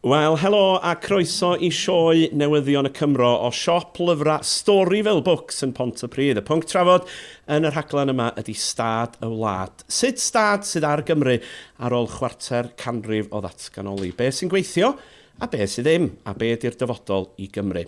Wel, helo a croeso i sioe Newyddion y Cymro o siop lyfrau Storyville Books yn Pontypridd. Y pwnc trafod yn y rhaglen yma ydy stad y wlad. Sut stad sydd ar Gymru ar ôl chwarter canrif o ddatganoli? Be sy'n gweithio a be sydd ddim? A be ydy'r dyfodol i Gymru?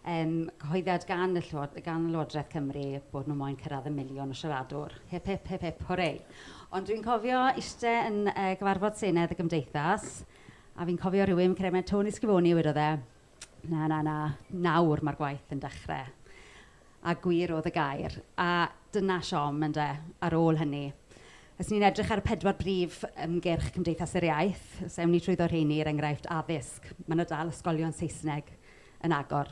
Yym, cyhoeddiad gan y Llyw- gan Lywodraeth Cymru bod nhw moyn cyrraedd y miliwn o siaradwr. Hip hip hip hip hwrê! Ond dwi'n cofio iste yn yy gyfarfod Senedd y Gymdeithas, a fi'n cofio rhywun, cremed Tony Schifoni a wedodd e, na na na, nawr mae'r gwaith yn dechrau. a gwir oedd y gair. A dyna siom, ynde, ar ôl hynny. Os ni'n edrych ar y pedwar brif ymgyrch Cymdeithas yr Iaith, os ewn ni trwyddo rheini, er enghraifft, addysg, mae 'na dal ysgolion Saesneg yn agor.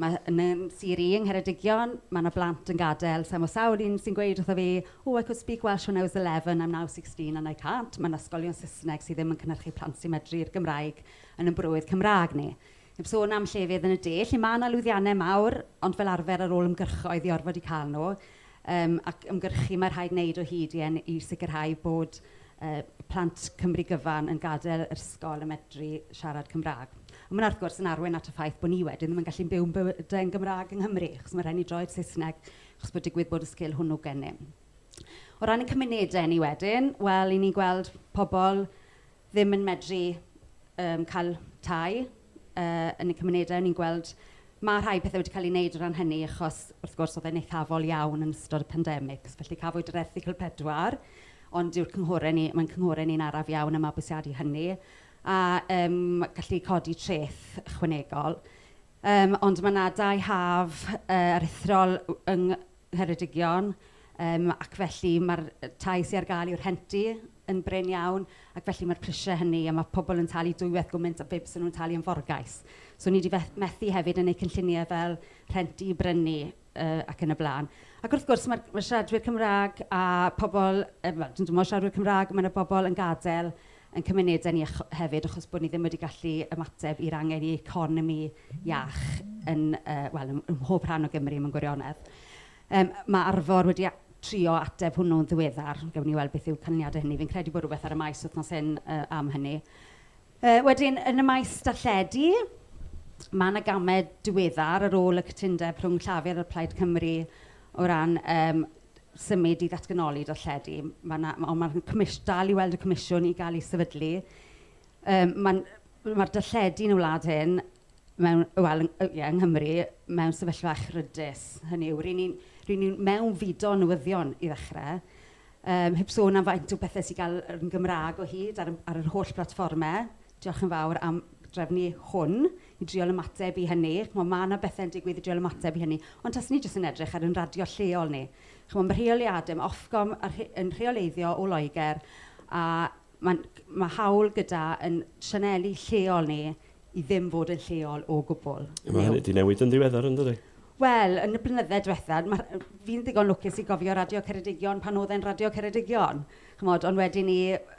Mae... yn yn sir i, yng Ngheredigion, mae 'na blant yn gadael, sa i'n gwybod, sawl un sy'n gweud wrtho fi, oh, I could speak Welsh when I was 11, I'm now 16 and I can't. Mae 'na ysgolion Saesneg sydd ddim yn cynhyrchu plant sy'n medru'r Gymraeg yn ein brwydd Cymraeg ni. Heb sôn am llefydd yn y de lle mae 'na lwyddiannau mawr ond fel arfer ar ôl ymgyrchoedd i orfod eu cael nhw yym ac ymgyrchu mae rhaid wneud o hyd i en- i sicrhau bod yy plant Cymru gyfan yn gadael yr ysgol yn medru siarad Cymraeg. Ond ma' 'na wrth gwrs yn arwain at y ffaith bod ni wedyn ddim yn gallu byw ein bywydau yn Gymraeg yng Nghymru achos ma' rhaid ni droi'r Saesneg achos bod digwydd bod y sgil hwnnw gennym. O ran ein cymunedau ni wedyn, wel 'y ni'n gweld pobl ddim yn medru yym cael tai yy yn y cymunedau o'n i'n gweld ma' rhai pethe wedi cael ei wneud o ran hynny achos wrth gwrs oedd e'n eithafol iawn yn ystod y pandemics felly cafwyd yr erthygl pedwar ond dyw'r cynghore ni mae'n cynghore ni'n araf iawn y mabwysiadu hynny a yym gallu codi treth ychwanegol yym ond ma' 'na dai haf yy aruthrol yng Ngheredigion, yym ac felly ma'r yy tai sy ar gael i'w rhentu yn brin iawn ac felly ma'r prisie hynny a ma' pobl yn talu dwywaith gwmint a be byse nhw'n talu am forgais. So ni 'di feth- methu hefyd yn eu cynllunie fel rhentu i brynu yy ac yn y blaen. Ac wrth gwrs ma'r ma' siaradwyr Cymraeg a pobl yy wel dwi'm yn gwybod siaradwyr Cymraeg, ma' 'na bobl yn gadael ein cymunedau ni ach- hefyd achos bod ni ddim wedi gallu ymateb i'r angen i economi iach yn yy wel ym ym mhob rhan o Gymru mewn gwirionedd. Yym ma' Arfor wedi a- trio ateb hwnnw'n ddiweddar. Gawn ni weld beth yw canlyniadau hynny. Fi'n credu bod rhywbeth ar y maes wythnos hyn yy am hynny. Yy wedyn yn y maes darlledu ma' 'na gamau diweddar ar ôl y cytundeb rhwng Llafur a Plaid Cymru o ran yym symud i ddatganoli darlledu. Mae 'na... ond mae'r comish- dal i weld y comisiwn i gael ei sefydlu. Yym mae'n... mae'r darlledu yn y wlad hyn mewn... wel yn... ie yng Nghymru mewn sefyllfa echrydus. Hynny yw, ry'n ni'n... ry'n ni'n mewnfudo newyddion i ddechrau, yym heb sôn am faint o bethe sy'n cael yr... yn Gymraeg o hyd ar y... ar yr holl blatfformau. Diolch yn fawr am drefnu hwn. i drial ymateb i hynny. Ch'mo' ma' 'na bethe'n digwydd i drial ymateb i hynny. Ond taswn i jyst yn edrych ar 'yn radio lleol ni. Ch'mo' ma' rheoliade, ma' Ofcom a rhe- yn rheoleiddio o Loegr a ma'n g- ma' hawl gyda ein sianeli lleol ni i ddim fod yn lleol o gwbl. A ma' hynny 'di newid yn ddiweddar yndydi? Wel, yn y blynydde diwetha', ma' rh- fi'n ddigon lwcus i gofio Radio Ceredigion pan o'dd e'n Radio Ceredigion. Ch'mod, ond wedyn 'ny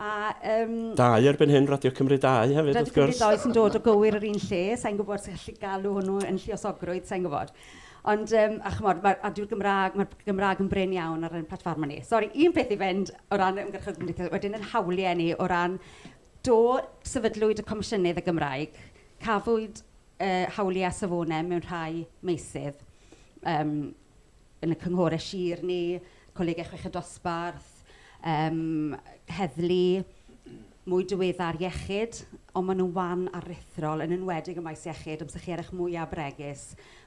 A yym... Dau erbyn hyn, Radio Cymru 2 hefyd wrth gwrs. Radio Cymru 2 sy'n dod o gywir yr un lle, sa i'n gwybod os chi'n gallu galw hwnnw yn lluosogrwydd, sa i'n gwybod. Ond yym a chimod ma' a dyw'r Gymraeg... ma'r Gymraeg yn brin iawn ar ein platfformau ni. Sori, un peth i fynd o ran ymgyrchoedd cymdeithasol, wedyn ein hawliau ni o ran... do sefydlwyd y Comisiynydd y Gymraeg, cafwyd yy hawliau safonau mewn rhai meysydd yym. yn y cynghorau sir ni, colegau chweched dosbarth, yym heddlu, mwy diweddar iechyd, ond maen nhw'n wan aruthrol, yn enwedig ym maes iechyd, amser chi ar eich mwyaf bregus,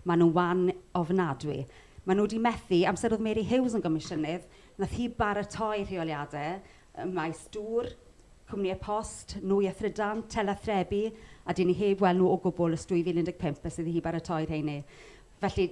maen nhw'n wan ofnadwy. Maen nhw wedi methu, amser oedd Mary Hughes yn gomisiynydd, wnaeth hi baratoi rheoliadau ym maes dŵr, cwmnïau post, nwy a thrydan, telathrebu, a 'dyn ni heb weld nhw o gwbl ers 2015 ers iddi hi baratoi rheiny. Felly,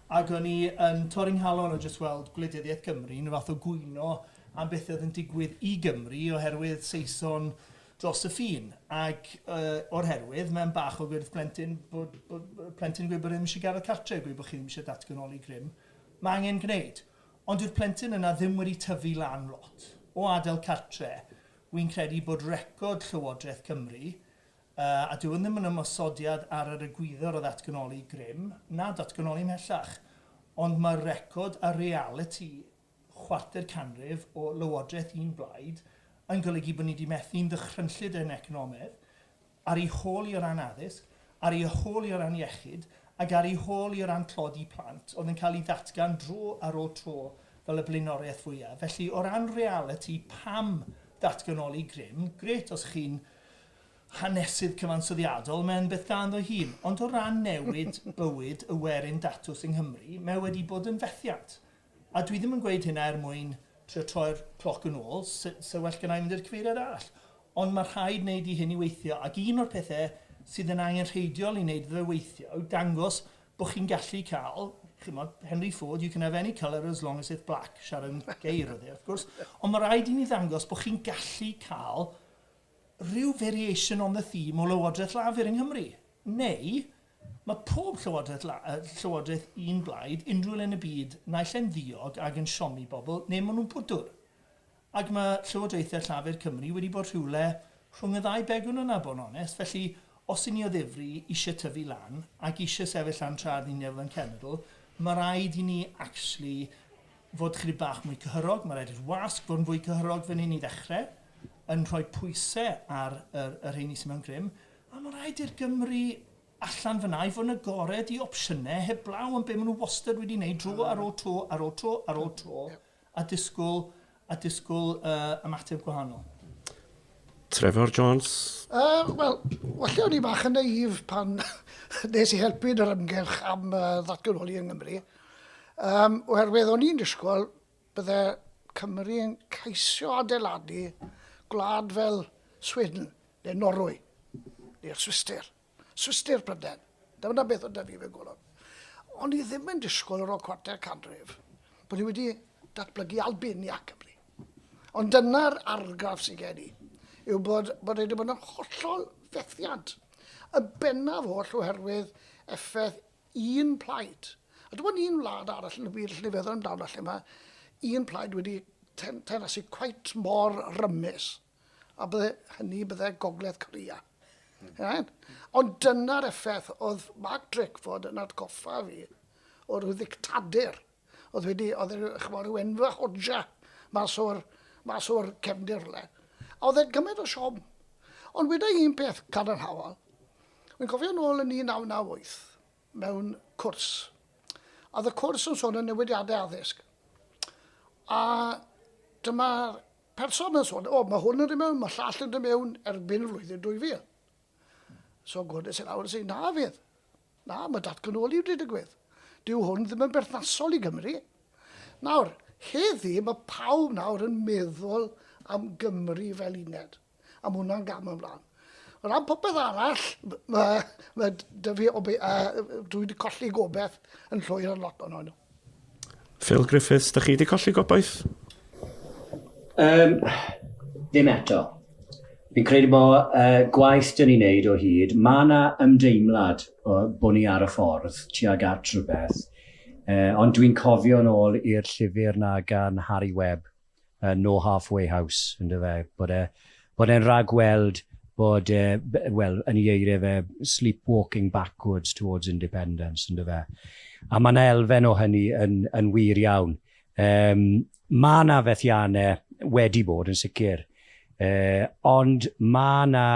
Ac o'n i yn torri 'nghalon o jyst weld gwleidyddiaeth Gymru yn rhyw fath o gwyno am beth oedd yn digwydd i Gymru oherwydd Saeson dros y ffin. Ac o'r herwydd, mae'n bach o wyrth plentyn bod, bod, bod plentyn yn gweud bod e ddim eisiau gadael cartre', gweud bod chi ddim eisiau datganoli grym. Mae angen gwneud. Ond dyw'r plentyn yna ddim wedi tyfu lan lot o adael cartre'. Wi'n credu bod record Llywodraeth Cymru Yy, a dyw hwn ddim yn ymosodiad ar yr egwyddor o ddatganoli grym, na datganoli ymhellach, ond mae'r record a realiti chwarter canrif o lywodraeth un blaid yn golygu bod ni wedi methu yn ddychrynllyd yn economedd, ar ei hôl i o ran addysg, ar ei hôl i o ran iechyd, ac ar ei hôl i o ran tlodi plant, oedd yn cael ei ddatgan dro ar ôl tro fel y blaenoriaeth fwyaf. Felly, o ran realiti, pam datganoli grym? Grêt os chi'n hanesydd cyfansoddiadol, mae'n beth da ynddo'i hun, ond o ran newid bywyd y werin datws yng Nghymru, mae wedi bod yn fethiant. A dwi ddim yn gweud hynna er mwyn trio troi'r cloc yn ôl, 'se well gynna' i mynd i'r cyfeiriad arall, ond mae rhaid wneud i hyn i weithio, ac un o'r pethau sydd yn angenrheidiol i wneud iddo fe weithio yw dangos bod chi'n gallu cael, chimod, Henry Ford, you can have any colour as long as it's black, Sharon Gay roedd e, wrth gwrs, ond mae rhaid i ni ddangos bod chi'n gallu cael rhyw variation on the theme o Lywodraeth Lafur yng Nghymru, neu mae pob Llywodraeth La-, Llywodraeth un blaid, unrhyw le yn y byd, naill ai'n ddiog ac yn siomi bobl, neu maen nhw'n bwdwr. Ac mae Llywodraethau Llafur Cymru wedi bod rhywle rhwng y ddau begwn yna, bod yn onest, felly os y'n ni o ddifri eisiau tyfu lan ac eisiau sefyll lan tra'r un lefel yn cenedl, mae rhaid i ni actually fod chydig bach mwy cyhyrog, mae rhaid i'r wasg fod yn fwy cyhyrog fan hyn i ddechrau. yn rhoi pwysau ar yr, y rheini sydd mewn grym, a mae'n rhaid i'r Gymru allan fyna i fod yn agored i opsiynau heblaw yn be maen nhw wastad wedi wneud dro ar ôl tro ar ôl tro ar ôl tro a disgwyl, a disgwyl uh, ymateb gwahanol. Trevor Jones? Uh, Wel, falle o'n i bach yn naif pan nes i helpu yn yr ymgyrch am uh, ddatganoli yng Nghymru. Um, oherwydd o'n i'n disgwyl Bydde Cymru yn ceisio adeiladu gwlad fel Sweden neu Norwy neu'r Swistir. Swistir, Prydain. Dyna beth oedd 'da fi mewn golwg. O'n i ddim yn disgwyl ar ôl cwarter canrif bod ni wedi datblygu Albania Cymru. Ond dyna'r argraff sydd gen i, yw bod, bod wedi bod yn hollol fethiant, y bennaf oll oherwydd effaith un plaid, a dim ond un wlad arall yn y byd lle feddwl amdano lle mae un plaid wedi ten, tenasu cwait mor rymus, a bydde hynny bydde Gogledd Corea. Mm. Right? Ond dyna'r effaith oedd Mark Drakeford yn atgoffa fi o'r ddictadur Oedd wedi, oedd e, chymod, rhyw enfa hodja mas o'r, mas o'r cefndir le. A oedd e'n cymaint o siom. Ond weda un peth cadarnhaol, Wy'n cofio nôl yn 1998 mewn cwrs. A oedd y cwrs yn sôn yn newidiadau addysg. A dyma'r person yn sôn, o, mae hwn yn dod mewn, mae llall yn dod mewn erbyn flwyddyn 2000. So gwrdd i sy'n awr sy'n na fydd. Na, mae datganoli wedi digwydd. Dyw hwn ddim yn berthnasol i Gymru. Nawr, heddi mae pawb nawr yn meddwl am Gymru fel uned. A mae hwnna'n gam ymlaen. O ran popeth arall, mae, mae dy fi, obe, uh, dwi wedi colli gobeith yn llwyr ar lot o'n nhw. Phil Griffiths, da chi wedi colli gobaith? Um, ddim eto. Fi'n credu bod uh, gwaith dyn ni'n neud o hyd, mae yna ymdeimlad o, bod ni ar y ffordd tuag at rhywbeth, uh, ond dwi'n cofio'n ôl i'r llyfr na gan Harry Webb, yy no half way house yndyw e? Bod e bod e'n rhagweld bod e b- wel yn ei eiriau fe sleepwalking backwards towards independence yndyw e? A mae yna elfen o hynny yn yn wir iawn. Yym mae yna fethiannau wedi bod yn sicr yy ond mae yna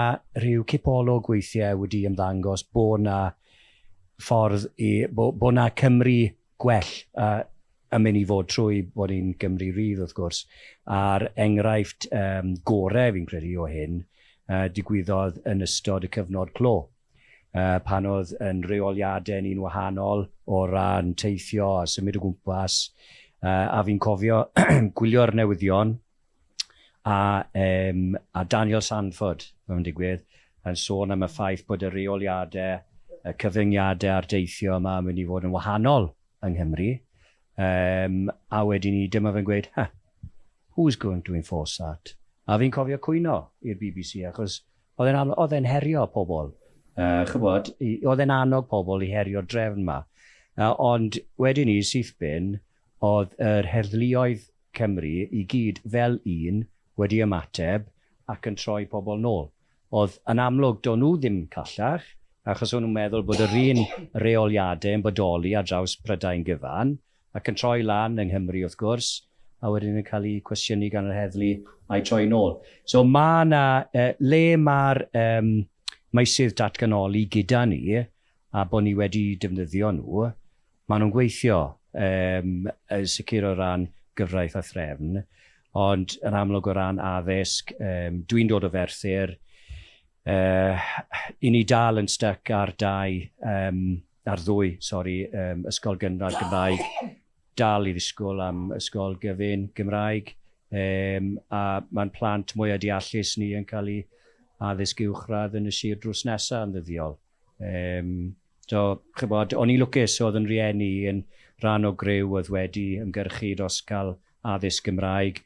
rhyw cipolwg weithiau wedi ymddangos bod yna ffordd i bo' bo' yna Cymru gwell a yn mynd i fod trwy bod ni'n Gymru Rydd wrth gwrs, a'r enghraifft yym gore fi'n credu o hyn yy digwyddodd yn ystod y cyfnod clo yy pan oedd yn reoliadau ni'n wahanol o ran teithio a symud o gwmpas yy a fi'n cofio gwylio'r newyddion a, um, a Daniel Sanford, mae'n digwydd, yn sôn am y ffaith bod y reoliadau, y cyfyngiadau a'r deithio yma yn mynd i fod yn wahanol yng Nghymru. Um, a wedyn ni, dyma fe'n gweud, ha, who's going to enforce that? A fi'n cofio cwyno i'r BBC, achos oedd e'n, oedd e'n herio pobl. Uh, chybod, oedd e'n annog pobl i herio'r drefn yma. Uh, ond wedyn ni, syth bin, Oedd yr heddluoedd Cymru i gyd fel un wedi ymateb ac yn troi pobl nôl. Oedd yn amlwg do'n nhw ddim callach achos o'n nhw'n meddwl bod yr un reoliadau yn bodoli ar draws Prydain gyfan ac yn troi lan yng Nghymru wrth gwrs a wedyn yn cael eu cwestiynu gan yr heddlu a'u troi nôl. So ma' 'na le ma'r yym meysydd datganoli gyda ni a bod ni wedi defnyddio nhw Maen nhw'n gweithio yym yn sicr o ran gyfraith a threfn, ond yn amlwg o ran addysg, yym dwi'n dod o Ferthyr, yy 'yn ni dal yn styc ar dau yym ar ddwy sori yym ysgol gynradd Gymraeg, dal i ddisgwyl am ysgol gyfun Gymraeg, yym a ma'n plant mwya' deallus ni yn cael eu addysg uwchradd yn y sir drws nesa' yn ddyddiol. Yym, so, chibod, o'n i'n lwcus oedd yn rieni i yn rhan o griw oedd wedi ymgyrchu dros cael addysg Gymraeg,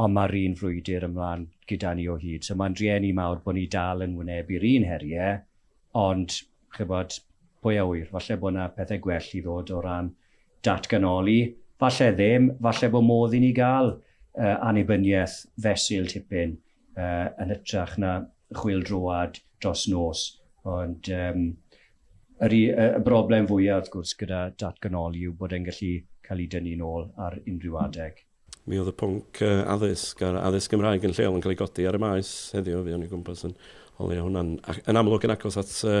ond mae'r un frwydr ymlaen gyda ni o hyd. So mae'n rieni mawr bod ni dal yn wynebu'r un heriau, ond, chibod, pwy a ŵyr, falle bod yna pethau gwell i ddod o ran datganoli, falle ddim, falle bod modd i ni gael uh, annibyniaeth fesul tipyn uh, yn hytrach na chwyldroad dros nos, ond yym yr u- yy y broblem fwya wrth gwrs gyda datganoli yw bod e'n gallu cael ei dynnu'n ôl ar unrhyw adeg. Mi oedd y pwnc yy addysg a'r addysg Gymraeg yn lleol yn cael ei godi ar y Maes heddiw, fuon ni o gwmpas yn o leia' hwnna'n ac yn amlwg yn agos at yy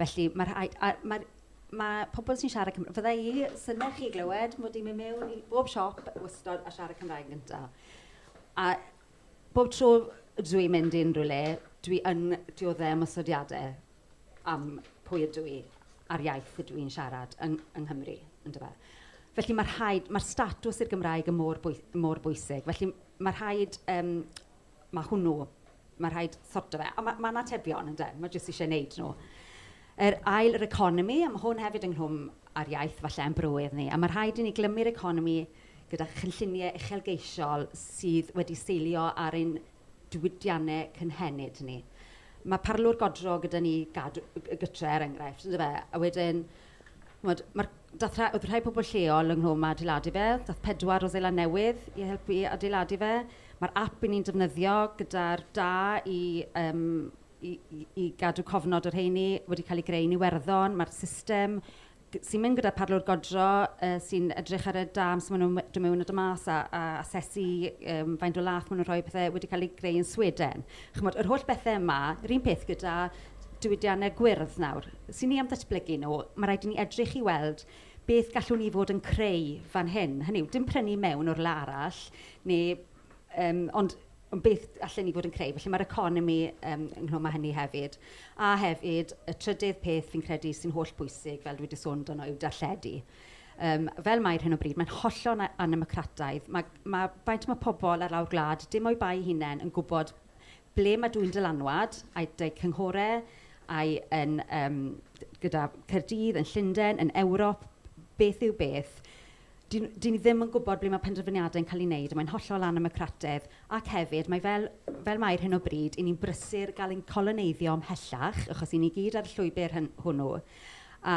Felly, mae rhaid... a mae'r... mae pobl sy'n siarad Cymraeg... fydda i... synnau chi glywed mod i'n mynd mewn i bob siop wastad a siarad Cymraeg yn gyntaf. A bob tro dw i'n mynd i unrhyw le, dwi yn dioddef ymosodiadau am pwy ydw i a'r iaith ydw i'n siarad yng yng Nghymru, yndyfe. Felly, mae rhaid... mae'r statws i'r Gymraeg yn mor bwy- mor bwysig. Felly, mae rhaid yym Mae hwnnw, mae rhaid sorto fe. Ond mae'n atebion, ynde. Mae jyst eisiau wneud nhw. Yr ail, yr economi, a mae hwn hefyd ynghlwm â'r iaith falle a'n bywyd ni. A mae rhaid i ni glymu'r economi gyda chynlluniau uchelgeisiol sydd wedi seilio ar ein diwydiannau cynhenid ni. Mae parlwr godro gyda ni, gadw gytre er enghraifft, yndyfe. A wedyn... Chimod, ma'r dathra- oedd rhai pobl lleol ynghlwm â adeiladu fe. Daeth pedwar o Seland Newydd i helpu adeiladu fe. Ma'r ap 'yn ni'n defnyddio gyda'r da i yym i i i gadw cofnod o'r rheini wedi cael eu greu yn Iwerddon. Ma'r system g- sy'n mynd gyda pharlwr godro yy sy'n edrych ar y dam sut maen nhw'n dod mewn a dod mas a a asesu yym faint o laeth maen nhw'n rhoi a pethe wedi cael ei greu yn Sweden. Chimod, yr holl bethe yma, yr un peth gyda diwydiannau gwyrdd nawr, sy'n ni am ddatblygu nhw, mae rhaid i ni edrych i weld beth gallwn ni fod yn creu fan hyn. Hynny yw, dim prynu mewn o rywle arall, neu yym... ond ond beth allen ni fod yn creu. Felly, mae'r economi yym ynghlwm â hynny hefyd. A hefyd, y trydydd peth fi'n credu sy'n hollbwysig, fel dwi wedi sôn amdano, yw darlledu. Yym fel mae ar hyn o bryd, mae'n hollol a- annemocrataidd. Ma' ma' faint ma' pobl ar lawr gwlad, dim o'u bai eu hunain, yn gwybod Ble mae dwyn dylanwad, a'i dau cynghorau, ai yn yym gyda Caerdydd, yn Llundain, yn Ewrop, beth yw beth? Dyn nhw... dyn ni ddim yn gwybod ble mae penderfyniadau yn cael eu wneud a mae'n hollol annemocrataidd ac hefyd mae fel fel mae ar hyn o bryd, 'y ni'n brysur gael ein coloneiddio ymhellach achos 'y ni gyd ar y llwybr hyn- hwnnw a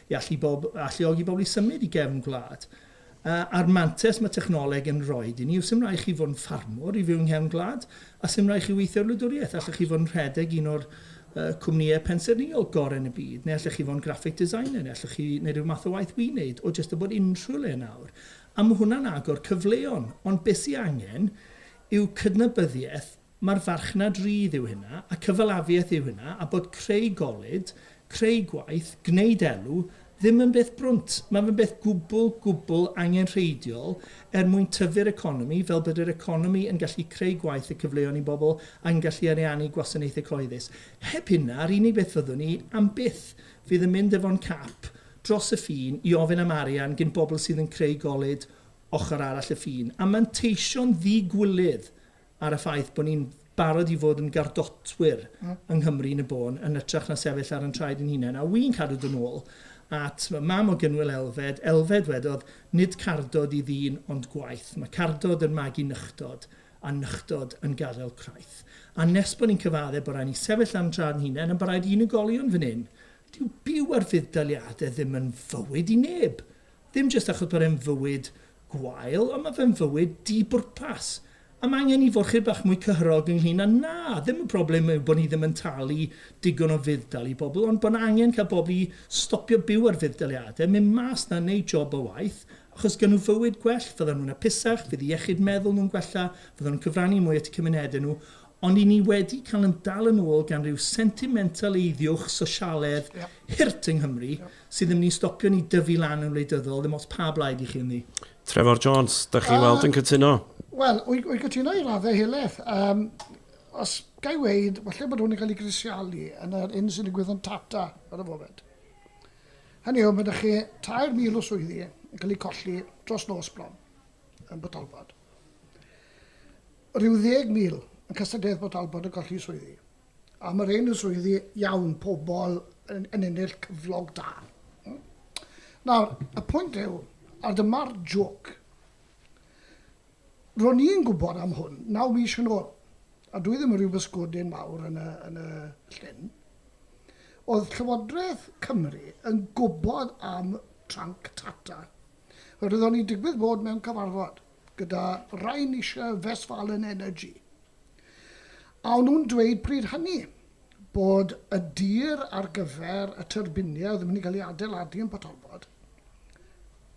i allu bob, alluogi bobl i symud i gefn gwlad. A, a'r mantes mae technoleg yn rhoi i ni yw 'sdim rhaid chi fod yn ffarmwr i fyw yng nghefn gwlad, a 'sdim rhaid chi weithio ar wladwriaeth, allwch chi fod yn rhedeg un o'r uh, cwmnïau pensaernïol gorau yn y byd, neu allwch chi fod yn graphic designer, neu allwch chi wneud rhyw math o waith wi'n wneud, o jyst o bod unrhyw le nawr. A mae hwnna'n agor cyfleon, ond beth sy'n angen yw cydnabyddiaeth Mae'r farchnad rydd yw hynna, a cyfalafiaeth yw hynna, a bod creu golud, creu gwaith, gwneud elw, ddim yn beth brwnt. Mae fe'n beth gwbl, gwbl angenrheidiol er mwyn tyfu'r economi, fel bod yr economi yn gallu creu gwaith a cyfleon i bobl ac yn gallu ariannu gwasanaethau cyhoeddus. Heb hynna, yr unig beth fyddwn ni am byth fydd yn mynd efo'n cap dros y ffin i ofyn am arian gin bobl sydd yn creu golud ochr arall y ffin a manteisio'n ddi-gwilydd ar y ffaith bod ni'n barod i fod yn gardotwyr yng Nghymru yn y bôn yn ytrach na sefyll ar yn traed yn hunain. A wi'n cadw dod nôl at mam o Gynwyl Elfed, Elfed wedodd, nid cardod i ddyn ond gwaith. Mae cardod yn magu nychdod, a nychdod yn gadael craith. A nes bod ni'n cyfaddef bod rhaid ni sefyll ar yn traed yn hunain, a bod rhaid i unigolion fan hyn, dyw byw ar fudd-daliadau ddim yn fywyd i neb. Ddim jyst achos bod e'n fywyd gwael, ond mae fe'n fywyd di-bwrpas. A mae angen i forchur bach mwy cyhyrog ynglŷn â 'na. Ddim y broblem yw bod ni ddim yn talu digon o fudd-dal i bobl, ond bod angen cael pobl i stopio byw ar fudd-daliadau, mynd mas 'na a wneud job o waith, achos gawn nhw fywyd gwell, fyddan nhw'n apusach, fydd iechyd meddwl nhw'n gwella, fyddan nhw'n cyfrannu mwy at eu cymunedau nhw. Ond i ni wedi cael yn dal yn ôl gan ryw sentimentaleiddiwch sosialedd hurt yng Nghymru sydd ddim ni'n stopio ni dyfu lan yn wleidyddol, ddim ots pa blaid i chi ynddi. Trefor Jones, dach chi weld yn cytuno? Wel, wy wy cytuno i raddau helaeth. Yym, os ga i weud, falle bod hwn yn cael ei grisialu yn yr hyn sy'n digwydd yn Tata ar y foment. Hynny yw, mae 'da chi 3,000 o swyddi yn cael eu colli dros nos bron yn Port Talbot. Rhyw ddeg mil, yn cystadledd Port Talbot yn colli swyddi. A ma rhein yn swyddi iawn, pobl yn, yn ennill cyflog da. Hmm? Nawr, y pwynt yw, a dyma'r joc, ro'n i'n gwybod am hwn naw mis yn ôl, a dwi ddim yn rhyw bysgodyn mawr yn y, yn y llyn, oedd Llywodraeth Cymru yn gwybod am tranc Tata. Roedd o'n i'n digwydd bod mewn cyfarfod. gyda Rheinische Westfalen Energy, a o'n nhw'n dweud pryd hynny bod y dir ar gyfer y tyrbiniau oedd yn mynd i gael ei adeiladu yn Port Talbot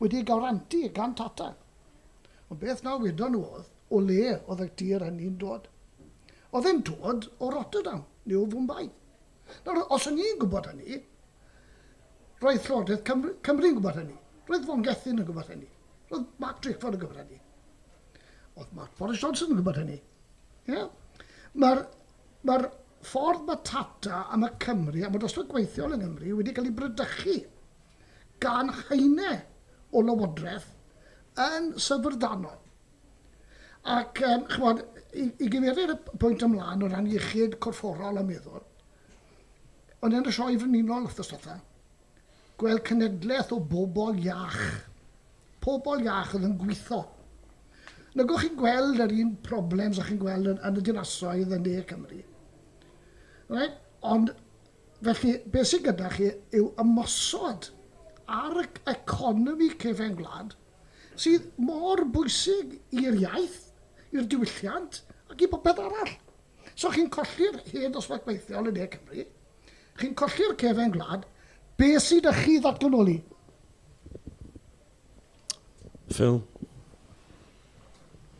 wedi ei garanti gan Tata. Ond beth na wedon nhw oedd, o le oedd y dir hynny'n dod? Oedd e'n dod o Rotterdam neu o Fwmbai. Nawr, os o'n i'n gwybod hynny, roedd Llywodraeth Cymru, Cymru'n gwybod hynny, roedd Von Gethin yn gwybod hynny. Roedd Mark Drakeford yn gwybod hynny. Oedd Mark Boris Johnson yn gwybod hynny. Yeah. Mae'r ma ffordd mae Tata a mae Cymru a mae dosbarth gweithiol yng Nghymru wedi cael ei brydychu gan haenau o lywodraeth yn syfrdanol. Ac, um, chymod, i, i gyfeiriad y pwynt ymlaen o ran iechyd corfforol a meddwl, o'n i'n y sioe frenhinol wrth ystotha, Gweld cenedlaeth o bobl iach. Pobl iach oedd yn gwitho. Nagwch chi'n gweld yr un problems a chi'n gweld yn, yn y dinasoedd yn ne Cymru. Right? Ond felly, beth sy'n gyda chi yw ymosod ar y economi cefen gwlad sydd mor bwysig i'r iaith, i'r diwylliant ac i bopeth arall. So chi'n colli'r hen ddosbarth gweithiol yn ne Cymru, chi'n colli'r cefen gwlad, be sydd â chi ddatganoli? Phil?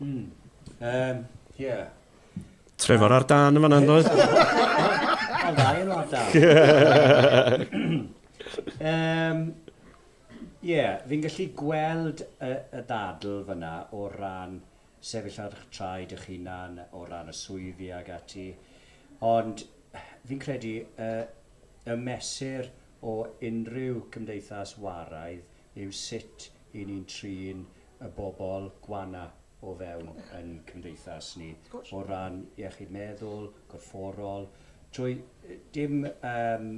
Hmm. Um, yeah. Trevor ar dan yn fanna, doedd? Mae'n dda yn ar dan. um, Ie, yeah, fi'n gallu gweld y, y dadl fyna o ran sefyll ar eich traed eich hunan o ran y swyddi ac ati, ond fi'n credu y y mesur o unrhyw cymdeithas waraidd yw sut y'n ni'n trin y bobl gwana' o fewn yn cymdeithas ni, o ran iechyd meddwl, gorfforol, trwy dim yym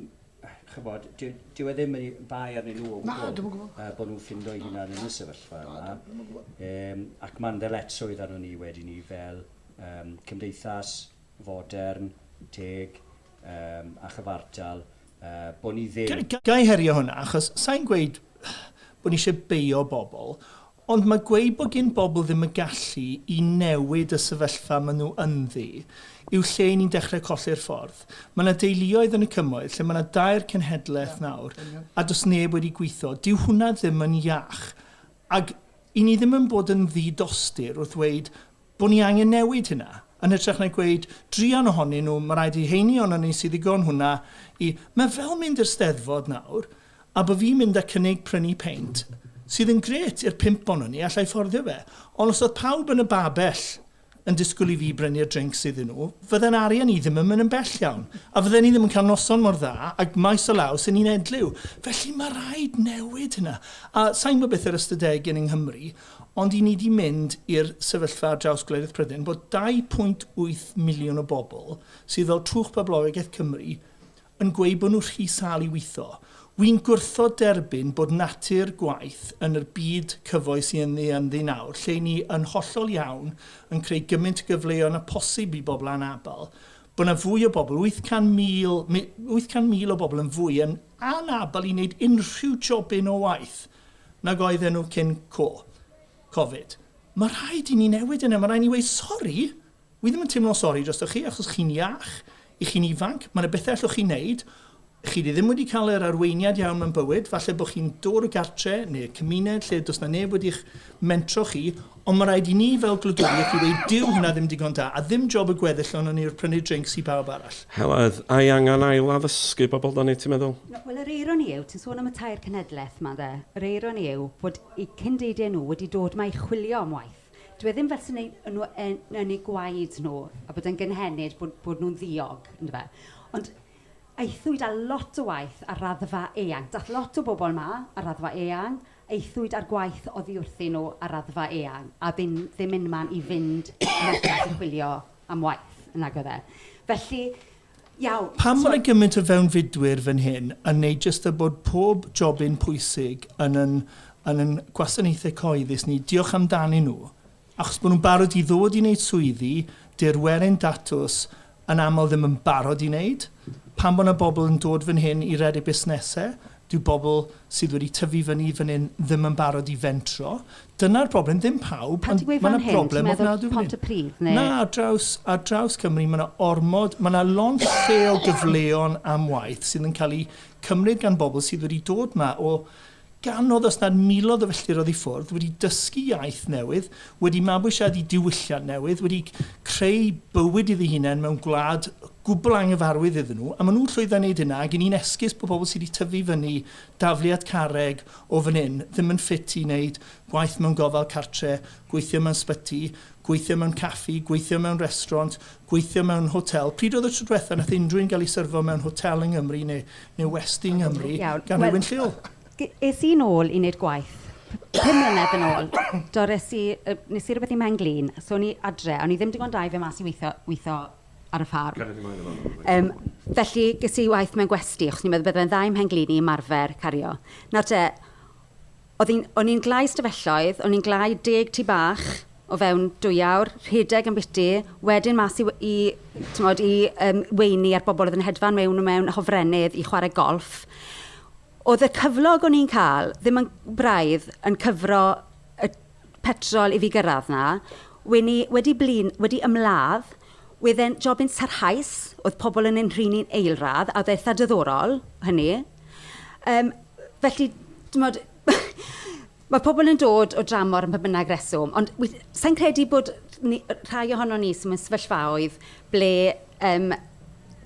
chybod, dyw e ddim yn bai arnyn nhw o gwbl uh, bod nhw'n ffindo'i hunan yn y sefyllfa yma. Um, ac mae'n ddyletswydd arno ni wedi ni fel um, cymdeithas fodern, teg um, a chyfartal, uh, bod ni ddim... Gai herio hwnna, achos sa'n gweud bod ni eisiau beio bobl, Ond mae gweud bod gin bobl ddim y gallu i newid y sefyllfa maen nhw ynddi yw lle i ni'n dechrau colli'r ffordd. Mae yna deuluoedd yn y Cymoedd lle mae yna dair cenhedlaeth nawr a does neb wedi gwitho. Dyw hwnna ddim yn iach. Ac i ni ddim yn bod yn ddi-dostur wrth ddweud bod ni angen newid hynna, yn hytrach na gweud, druan ohonyn nhw, mae rhaid i rheiny ohonon ni sydd ddigon hwnna i... Mae fel mynd i'r Steddfod nawr, A by fi'n mynd a cynnig prynu peint, sydd yn grêt, i'r pump onon ni, alla i fforddio fe, ond os oedd pawb yn y babell yn disgwyl i fi brynu'r drincs iddyn nhw, fydde'n arian i ddim yn mynd yn bell iawn, a fydden i ddim yn cael noson mor dda, ag maes o law sy'n un edliw. Felly, mae rhaid newid hynna. A sa i'n gwybod beth yr ystadegyn yng Nghymru, ond i ni 'di mynd i'r sefyllfa ar draws gwledydd Prydain, bod 2.8 miliwn o bobl, sydd fel twch poblogaidd Cymru, yn gweud bod nhw rhy sâl i weithio. Wi'n gwrthod derbyn bod natur gwaith yn yr byd cyfoes i ynddi ynddi nawr, lle i ni yn hollol iawn yn creu gymaint o gyfleon â posib i bobl anabl, bod 'na fwy o bobl, 800,000, 800,000 o bobl yn fwy yn anabl i wneud unrhyw jobyn o waith nag oedden nhw cyn co, Covid. Mae rhaid i ni newid hynna, mae rhaid i ni weud, sori, Wi ddim yn teimlo'n sori drostoch chi achos chi'n iach, i chi'n ifanc, mae 'na bethe allwch chi neud, chi 'di ddim wedi cael yr arweiniad iawn mewn bywyd, falle bo chi'n dod o gartre neu cymuned lle does 'na neb wedi'ch mentro chi, ond ma raid i ni fel gwladwriaeth i weud dyw hynna ddim digon da, a ddim job y gweddill ohonon ni yw'r prynu drinks i bawb arall. Heledd, a i angan ail addysgu bobl da ni ti'n meddwl? Na, wel yr eironi yw, ti'n sôn am y tair cenhedleth 'ma ynde, yr eironi yw fod eu cyn-deudie nhw wedi dod 'ma i chwilio am waith. Dyw e ddim fel 'se neu- o' nhw yn yn eu gwaed nhw, a bod e'n gynhenid bod bod nhw'n ddiog, yndyfe. Ond aethwyd â lot o waith ar raddfa eang. Daeth lot o bobl 'ma ar raddfa eang, aethwyd â'r gwaith oddi wrthyn nhw ar raddfa eang, a oedd ddim ddim unman i fynd allan i chwilio am waith, nag oedd e. Felly, Pam mae gymaint o fewnfudwyr fan hyn yn neud jyst a bod pob jobyn pwysig yn yn yn yn gwasanaethau cyhoeddus ni, diolch amdanyn nhw, achos bod nhw'n barod i ddod i neud swyddi dy'r werin datws yn aml ddim yn barod i neud? Pam bod na bobl yn dod fan hyn i redeg busnesau? Dyw bobl sydd wedi tyfu fyny fan hyn ddim yn barod i fentro. Dyna'r broblem. Ddim pawb, ond mae 'na broblem ofnadwy fan hyn. Pan ti'n gweud fan hyn, ti'n meddwl Pontypridd neu...? Na, ar draws, ar draws Cymru, mae 'na ormod, mae 'na lond lle o gyfleon am waith sydd yn cael eu cymryd gan bobl sydd wedi dod 'ma o gannoedd, os nad miloedd o filltiroedd i ffwrdd, wedi dysgu iaith newydd, wedi mabwysiadu diwylliant newydd, wedi creu bywyd iddi hunain mewn gwlad gwbl anghyfarwydd iddyn nhw, a maen nhw'n llwyddo i wneud hynna, ac 'y ni'n esgus bod pobl sydd wedi tyfu i fyny dafliad carreg o fan hyn ddim yn ffit i wneud gwaith mewn gofal cartre', gweithio mewn sbyty, gweithio mewn caffi, gweithio mewn restraunt, gweithio mewn hotel. Pryd oedd y tro diwetha' wnaeth unrhyw un gael ei syrfo mewn hotel yng Nghymru neu neu westy yng Nghymru gan rywun lleol? Es i'n ôl i wneud gwaith pum mlynedd yn ôl, do, res i, nes i rywbeth i Mhen-glin, so o'n i adre, a o'n i ddim digon da i fynd mas i weithio, weithio ar y ffarm. Yym, felly ges i waith mewn gwesty, achos o'n i'n meddwl bydde fe'n dda i'm mhen-glin i ymarfer cario. Nawr te, oedd hi'n... o'n i'n gwlâu ystafelloedd, o'n i'n gwlâu deg tŷ bach o fewn dwy awr, rhedeg yn biti, wedyn mas i w- i, timod, i yym weini a'r bobl oedd yn hedfan mewn a mewn, hofrennydd, i chwarae golff. Oedd y cyflog o'n i'n cael ddim yn braidd yn cyfro y petrol i fi gyrraedd 'na. Wen i wedi blin, wedi ymladd. Wedd e'n jobyn sarhaus, oedd pobl yn ein nhrin ni'n eilradd, a oedd e eitha diddorol, hynny. Yym, felly, timod, ma' pobl yn dod o dramor am ba bynnag reswm, ond weth- sa i'n credu bod ni... rhai ohonon ni sy mewn sefyllfaoedd ble yym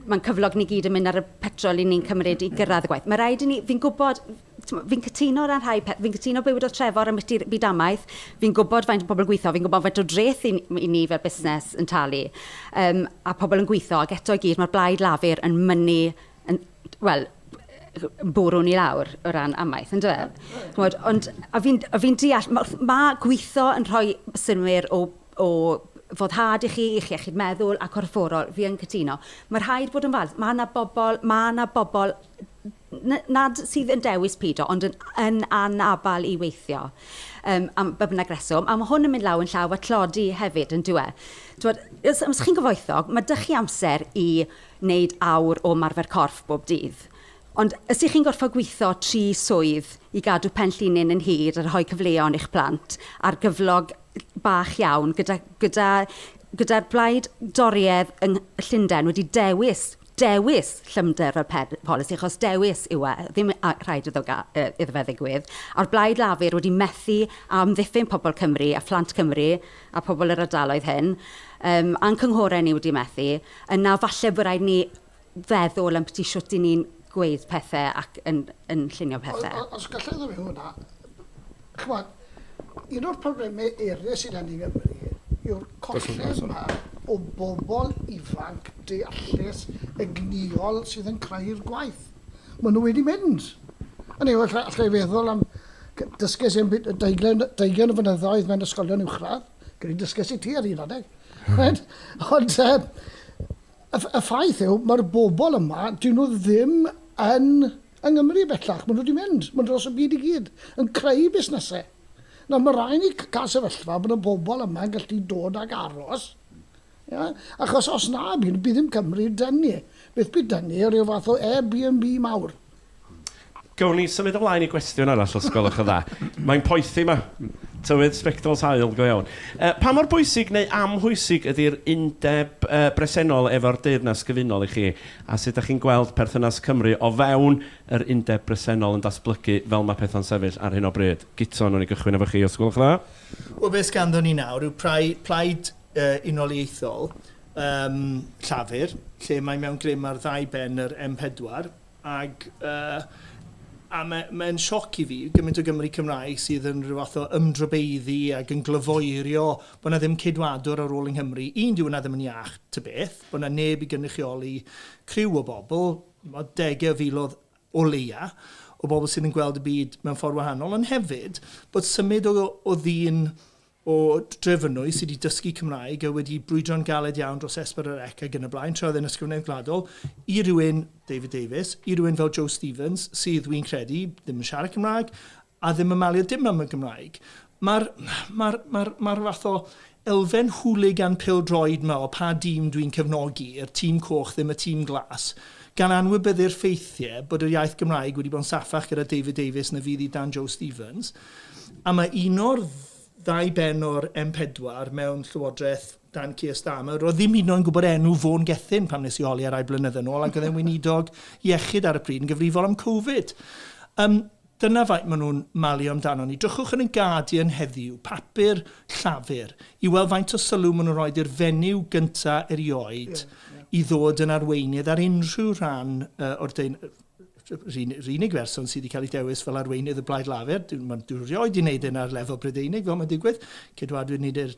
mae'n cyflog ni gyd yn mynd ar y petrol 'y ni'n cymryd i gyrraedd y gwaith. Mae'n rhaid i ni... fi'n gwybod... Fi'n cytuno ar rhai pethau. Fi'n cytuno bywyd o Trefor ambiti'r byd amaeth. Fi'n gwybod faint o bobl yn gweithio. Fi'n gwybod faint o dreth i i ni fel busnes yn talu yym a pobl yn gweithio. Ac eto i gyd, mae'r blaid Lafur yn mynnu yn wel yn bwrw ni lawr o ran amaeth, yn dyw e? Chimod, ond a fi'n a fi'n deall ma' wrth... ma' gweithio yn rhoi synnwyr o o foddhad i chi, i'ch iechyd meddwl a corfforol. Fi yn cytuno. Mae'n rhaid bod yn falch. Mae 'na bobl... mae 'na bobl nad sydd yn dewis pido, ond yn, yn anabal i weithio, um, am ba bynnag reswm. A mae hwn yn mynd law yn llaw a tlodi hefyd, yn dweud. Twod, os, os chi'n gyfoethog, mae dych chi amser i wneud awr o marfer corff bob dydd. Ond os ych chi'n gorfod gweithio tri swydd i gadw pen llinyn yn hir a rhoi cyfleon i'ch plant ar gyflog bach iawn gyda, gyda gyda'r blaid doriedd yng Llundain wedi dewis dewis llymder y polisi, achos dewis yw e, ddim rhaid iddo fe ddigwydd, a'r Blaid Lafur wedi methu amddiffyn pobl Cymru a phlant Cymru a pobl yr ardaloedd hyn, um, a'n cynghorau ni wedi methu, yna falle bod rhaid ni feddwl am byti shwt i ni'n gweud pethau ac yn, yn llunio pethau. Os gallai ddim hwnna, Ch'mod, un o'r problemau eraill sydd â ni yng Nghymru yw'r colled 'ma o bobl ifanc deallus, egnïol, sydd yn creu'r gwaith. Maen nhw wedi mynd. Hynny yw, alla i feddwl am... dysgais i am bum- deugain deugain o flynyddoedd mewn ysgolion uwchradd, credu dysgais i ti ar un adeg. Right? Ond yy, y y ffaith yw, mae'r bobl yma, 'dyn nhw ddim yn Yng Nghymru bellach, maen nhw wedi mynd, maen nhw dros y byd i gyd, yn creu busnesau. Nawr, mae rhaid ni cael sefyllfa bod y bobl yma yn gallu dod ac aros, ia? achos os na, bydd ddim Cymru dynnu, beth bydd dynnu, rhyw fath o Airbnb mawr. Gawn ni symud ymlaen i gwestiwn arall os gwelwch yn dda. Mae'n poethi 'ma. Tywydd sbectols haul go iawn. Yy, pa mor bwysig neu amhwysig ydi'r undeb yy bresennol efo'r Deyrnas Gyfunol i chi? A sut dach chi'n gweld perthynas Cymru o fewn yr undeb bresennol yn datblygu fel mae pethau'n sefyll ar hyn o bryd? Guto, wnawn ni gychwyn efo chi os gwelwch yn dda. Wel, beth sganddon ni nawr yw prai- plaid yy unoliaethol yym Llafur, lle mae mewn grym ar ddau ben yr M pedwar, ag yy a ma' mae'n sioc i fi, gymaint o Gymry Cymraeg sydd yn rhyw fath o ymdrobeiddu ag yn glyfoerio bod 'na ddim ceidwadwr ar ôl yng Nghymru. Un, dyw hwnna ddim yn iach ta beth. bod 'na neb i gynrychioli criw o bobl, chimod, degau o filoedd o leia' o bobl sydd yn gweld y byd mewn ffordd wahanol, ond hefyd bod symud o o ddyn o Drefynwy sydd wedi dysgu Cymraeg a wedi brwydro'n galed iawn dros Esbern yr Ec ac yn y blaen, tra oedd e'n Ysgrifennydd Gwladol, i rywun, David Davies, i rywun fel Joe Stevens, sydd, wi'n credu, ddim yn siarad Cymraeg, a ddim yn malio dim am y Gymraeg. Mae'r ma ma ma fath o elfen hooligan pildroed yma o pa dîm dwi'n cefnogi, yr tîm coch ddim y tîm glas, gan anwybyddu'r ffeithiau bod yr iaith Gymraeg wedi bod yn saffach gyda David Davies na fydd i dan Joe Stevens. A mae un o'r ddau ben o'r M4 mewn llywodraeth dan Keir Starmer, roedd ddim hyd yn oed yn gwybod enw Fôn Gethin pan nes i holi ar rai blynyddoedd yn ôl ac oedd e'n weinidog iechyd ar y pryd yn gyfrifol am Covid. Um, Dyna faint maen nhw'n malu amdanon ni. Drychwch yn y Guardian heddiw, papur Llafur, i weld faint o sylw maen nhw'n rhoi i'r fenyw gyntaf erioed i ddod yn arweinydd ar unrhyw rhan o'r deun- Yr unig berson sydd wedi cael ei dewis fel arweinydd y Blaid Lafur, dyw- dyw rioed wedi wneud hyn ar lefel Brydeinig fel mae'n digwydd, ceidwadwyr nid yw'r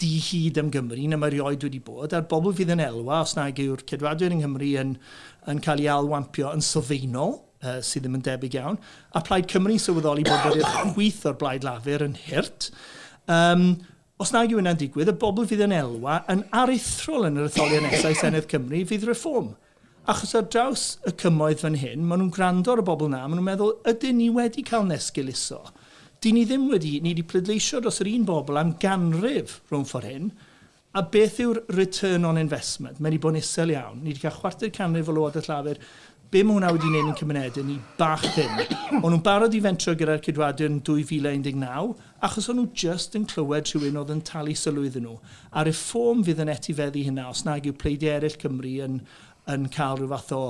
dihid am Gymru na mae rioed wedi bod, a'r bobl fydd yn elwa os nag yw'r Ceidwadwyr yng Nghymru yn yn cael ei ail-wampio yn sylfaenol, yy sydd ddim yn debyg iawn, a Plaid Cymru'n sylweddoli bod bod i'r chwith o'r Blaid Lafur yn hurt, yym os nag yw hynna'n digwydd, y bobl fydd yn elwa yn aruthrol yn yr etholiad nesaf i Senedd Cymru fydd Reform. Achos ar draws y cymoedd fan hyn, maen nhw'n gwrando ar y bobl 'na, maen nhw'n meddwl, 'ydyn ni wedi cael nesgul iso? Dyn ni ddim wedi, ni wedi pleidleisio dros yr un bobl am ganrif rhwng ffor' hyn, a beth yw'r return on investment? Mae 'di bod yn isel iawn. Ni 'di cael chwarter canrif o Lywodraeth Lafur. Be' ma' hwnna wedi neud i'n cymunede ni? Bach ddim. O'n nhw'n barod i fentro gyda'r Ceidwadwyr yn 2019, Achos o'n nhw jyst yn clywed rhywun oedd yn talu sylw iddyn nhw. A Reform fydd yn etifeddu hynna os nag yw pleidiau eraill Cymru yn yn cael rhyw fath o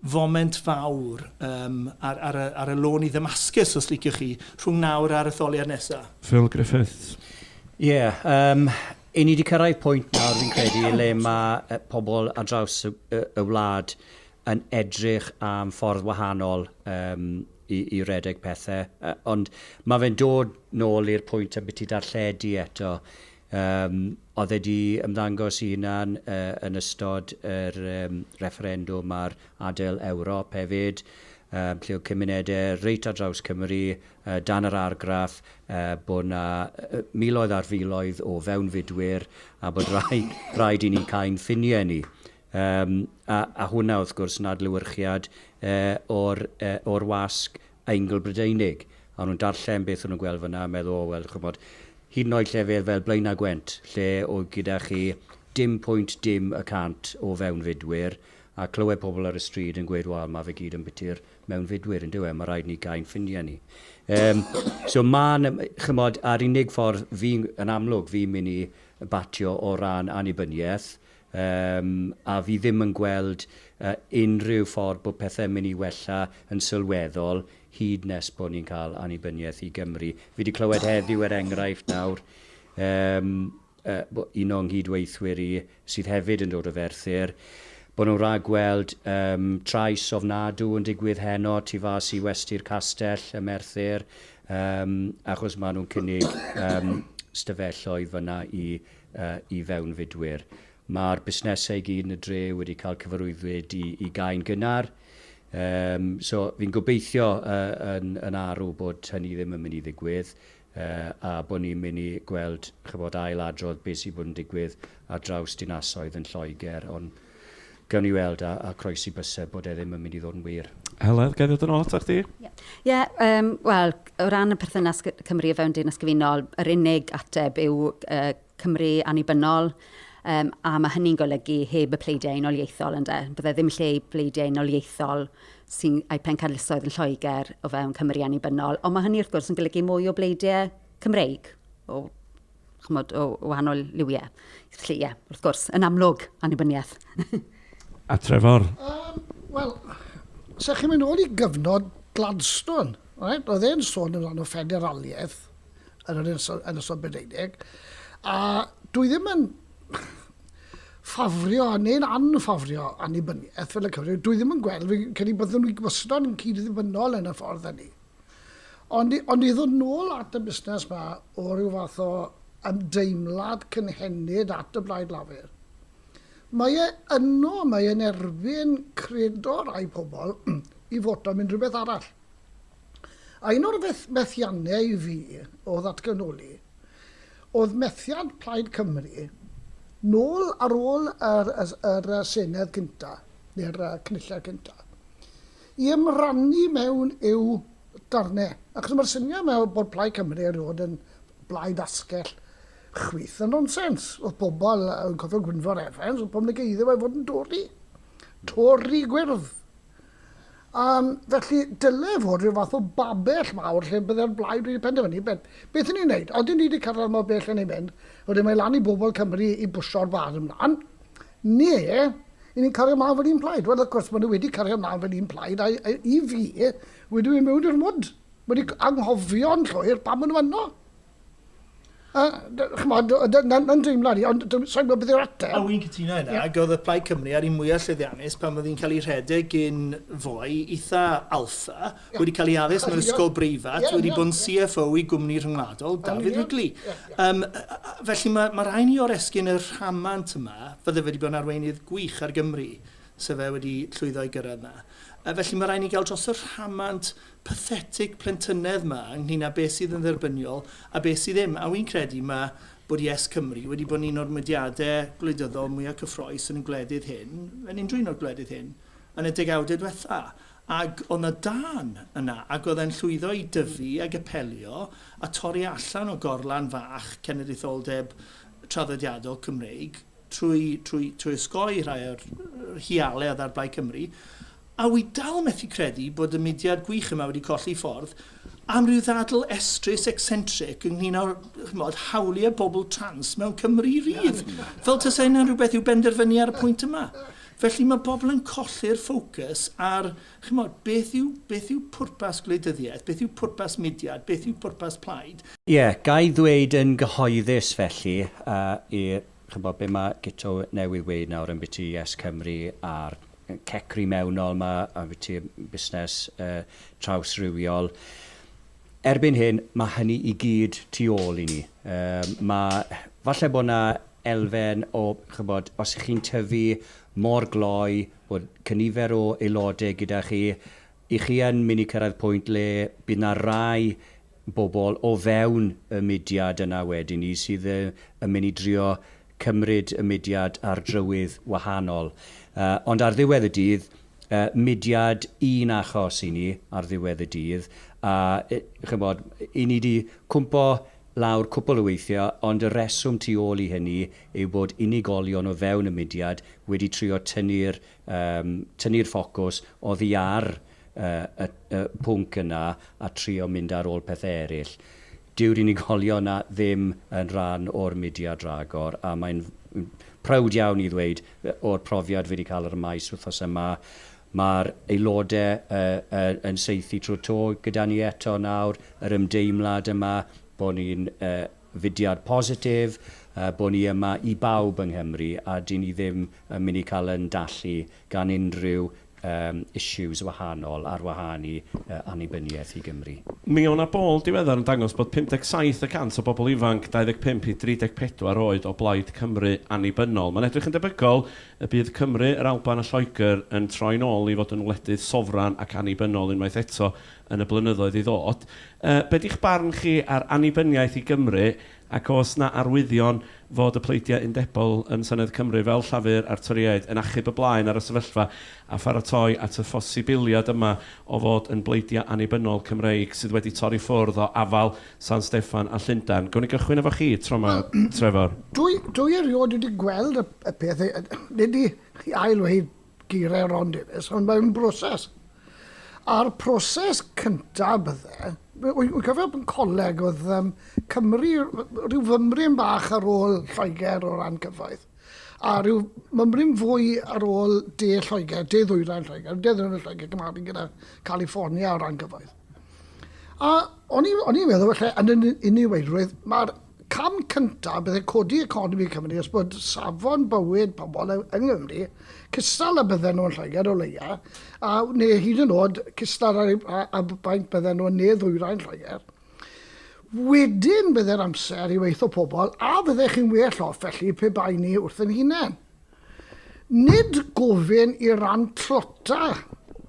foment fawr yym ar ar y ar y lôn i Ddamascus, os liciwch chi, rhwng nawr a'r etholiad nesaf. Phil Griffiths. Ie, yym 'yn ni 'di cyrraedd pwynt nawr fi'n credu le mae pobl ar draws y y wlad yn edrych am ffordd wahanol yym i i redeg pethe. Yy ond ma' fe'n dod nôl i'r pwynt ambiti darlledu eto. Yym o'dd e 'di ymddangos 'i hunan yy yn ystod yr yym refferendwm ar adael Ewrop hefyd yym lle o'dd cymunede reit ar draws Cymru yy dan yr argraff yy bo' 'na yy miloedd ar filoedd o fewnfudwyr a bod rhai- rhaid i ni cau'n ffinie ni. Yym, a, a hwnna, wrth gwrs, yn adlewyrchiad e, o'r, e, o'r wasg Eingl-Brydeinig. A o'n nhw'n darllen beth o'n nhw'n gweld fan'na a meddwl, o, wel, ch'mod, hyd yn oed llefydd fel Blaen a Gwent, lle oedd gyda chi dim pwynt dim y cant o fewnfudwyr, a clywed pobl ar y stryd yn gweud, wel, ma' fe gyd yn biti'r mewnfudwyr, yndyw e, ma' raid ni gau'n ffrindiau ni. Yym, so ma' 'na, ch'mod, a'r unig ffordd fi'n, yn amlwg, fi'n mynd i batio o ran annibyniaeth, Yym, a fi ddim yn gweld yy unrhyw ffordd bod pethe'n mynd i wella yn sylweddol hyd nes bod ni'n cael annibyniaeth i Gymru. Fi 'di clywed heddiw, er enghraifft nawr, yym, yy, bo- un o'n nghyd-weithwyr i sydd hefyd yn dod o Ferthyr, bod nhw'n rhagweld yym trais ofnadw yn digwydd heno tu fas i Westy'r Castell ym Merthyr, yym, achos ma' nhw'n cynnig yym 'stafelloedd fan'na i i fewnfudwyr. Mae'r busnesau i gyd yn y dre wedi cael cyfarwyddyd i i gau'n gynnar. Yym so fi'n gobeithio yy yn yn arw bod hynny ddim yn mynd i ddigwydd yy a bod ni'n mynd i gweld ch'bod ail adrodd be' sy' bod yn digwydd ar draws dinasoedd yn Lloegr ond Gawn ni weld, a, a croesi byse bod e ddim yn mynd i ddod yn wir. Heledd, gael ddod yn ôl atoch chdi? Ie, yeah. yeah, um, wel, o ran y perthynas Cymru a fewn Deyrnas Gyfunol, yr unig ateb yw uh, Cymru annibynnol, Um, a mae hynny'n golygu heb y pleidiau unoliaethol ynddo. Bydde ddim lle i pleidiau unoliaethol sy'n ei pencadlysoedd yn Lloegr o fewn Cymru annibynnol. Ond mae hynny wrth gwrs yn golygu mwy o bleidiau Cymreig o chymod, o wahanol liwiau. Felly, ie, wrth gwrs, yn amlwg, annibyniaeth. A Trefor? Um, Wel, sa chi'n mynd ôl i gyfnod Gladstone, right? oedd e'n sôn yn rhan o ffederaliaeth yn yr Ynysol Brydeinig, a dwi ddim yn ffafrio neu'n anffafrio annibyniaeth fel y Cymru. Dwi ddim yn gweld, fi'n credu bod nhw'n gymysgod yn cyd-ddibynnol yn y ffordd hynny. Ond ond i ddod nôl at y busnes 'ma o ryw fath o ymdeimlad cynhenid at y Blaid Lafur, mae e yno, mae e'n erbyn credo rai pobl i foto am unrhywbeth arall. A un o'r feth- methiannau i fi o ddatganoli oedd methiant Plaid Cymru nôl ar ôl yr yr Senedd cynta, neu'r Cynulliad cynta. i ymrannu mewn eu darnau, achos mae'r syniad yma bod Plaid Cymru erioed yn blaid asgell chwith yn nonsens. Oedd pobl yn cofio Gwynfor Evans, oedd pobl yn negeiddio fe fod yn Dori. Tori gwyrdd. Um, felly, dylai fod rhyw fath o babell mawr lle byddai'r blaid wedi penderfynu beth, beth ni'n neud. Oedden ni wedi cyrraedd mor bell yn ei mynd, wedyn mae lan i bobl Cymru i bwsio'r bar ymlaen. Neu, y'n ni'n cario mlaen fel un plaid? Wel, wrth gwrs, maen nhw wedi cario mlaen fel un plaid, a i fi, wedi mynd mewn i'r mwd. Wedi anghofio'n llwyr pam maen nhw yno. A, chymod, na'n dreimlad i, ond sa'n gwybod beth yw'r ateb. A wy'n cytuno yna, ac oedd y Plaid Cymru ar un mwyaf llwyddiannus pan oedd hi'n cael ei rhedeg gyn foi eitha alpha, wedi cael ei addysg mewn ysgol breifat, wedi bod yn CFO i gwmni rhyngwladol, David Wrigley. Um, felly mae, mae rhaid ni o'r esgyn y rhamant yma, fydde wedi bod yn arweinydd gwych ar Gymru, sef e wedi llwyddo i gyrraedd yna. A felly mae rhaid ni gael dros y rhamant pathetic plentynedd yma ynglyn â beth sydd yn dderbyniol a beth sydd ddim. A wy'n credu mae bod Yes Cymru wedi bod yn un o'r mudiadau gwleidyddol mwyaf cyffroes yn y gwledydd hyn, yn unrhyw un o'r gwledydd hyn, yn y degawdau diwetha. Ag o' 'na dân yna, ag o'dd e'n llwyddo i dyfu ag apelio a torri allan o gorlan fach ceneditholdeb traddodiadol Cymreig trwy trwy trwy osgoi rhai o'r hiale o'dd ar Blaid Cymru, a wi dal methu credu bod y mudiad gwych yma wedi colli ffordd am ryw ddadl estrys ecsentric ynglŷn â, ch'mod, hawlie bobl trans mewn Cymru rydd, fel tase hynna'n rhywbeth i'w benderfynu ar y pwynt yma. Felly, mae pobl yn colli'r ffocws ar, chimod, beth yw, beth yw pwrpas gwleidyddiaeth, beth yw pwrpas mudiad, beth yw pwrpas plaid. Ie, ga i ddweud yn gyhoeddus felly, a i, chimod, be mae Guto newydd weud nawr ambiti YesCymru a'r cecri mewnol 'ma ambiti busnes yy trawsrywiol, Erbyn hyn, mae hynny i gyd tu ôl i ni. Mae... falle bod 'na elfen o, chibod, os 'y chi'n tyfu mor gloi, bod cynifer o aelodau gyda chi, 'y chi yn mynd i cyrraedd pwynt le bydd 'na rai bobl o fewn y mudiad yna wedyn 'ny sydd yn mynd i drio cymryd y mudiad ar drywydd wahanol. Ond ar ddiwedd y dydd, mudiad un achos i ni ar ddiwedd y dydd. A ch'mod, 'yn ni 'di cwmpo lawr cwpwl o weithiau, ond y rheswm tu ôl i hynny yw bod unigolion o fewn y mudiad wedi trio tynnu'r tynnu'r ffocws oddi ar y pwnc yna a trio mynd ar ôl pethau eraill. Dyw'r unigolion yna ddim yn rhan o'r mudiad ragor a mae'n prowd iawn i ddweud, o'r profiad fi wedi cael ar y maes wythnos yma, mae'r aelodau yn saethu trwy'r to gyda ni eto nawr, yr ymdeimlad yma bod ni'n fudiad positif, bod ni yma i bawb yng Nghymru a 'dyn ni ddim yn mynd i cael ein dallu gan unrhyw yym issues wahanol ar wahân i yy annibyniaeth i Gymru. Mi o' 'na bôl diweddar yn dangos bod 57 y cant o bobl ifanc 25 i 34 oed o blaid Cymru annibynnol. Mae'n edrych yn debygol y bydd Cymru, yr Alban a Lloegr yn troi'n ôl i fod yn wledydd sofran ac annibynnol unwaith eto yn y blynyddoedd i ddod. Yy be' 'di'ch barn chi ar annibyniaeth i Gymru Ac oes 'na arwyddion fod y pleidiau undebol yn Senedd Cymru, fel Llafur a'r Torïaid, yn achub y blaen ar y sefyllfa a pharatoi at y phosibiliad yma o fod yn bleidiau annibynnol Cymreig sydd wedi torri ffwrdd o afael San Steffan a Llundain? Gewn ni gychwyn efo chi tro 'ma, Trefor. Wel, dwi erioed wedi gweld y peth, nid i ail-ddweud geiriau Ron Davies, ond mae'n broses. A'r proses cyntaf bydde, wy'n cofio yn coleg oedd um, Cymru, rhyw fymryn bach ar ôl Lloegr o ran cyfoeth, a rhyw mymryn fwy ar ôl de Lloegr, de ddwyrain Lloegr, de ddwyrain Lloegr, gymaru gyda California o ran cyfoeth. A o'n i'n o'n i'n meddwl falle yn yn iniweilrwydd, mae'r cam cyntaf byddai codi economi Cymru os bod safon bywyd pobl yng Nghymru cystal a bydden nhw'n Lloegr o leia, a neu hyd yn oed cystal ar eu a, a baint bydden nhw'n ne ddwyrain Lloegr. Wedyn byddai'r amser i weithio pobl a fyddech chi'n well off felly pe bai ni wrth yn hunain. Nid gofyn i ran tlota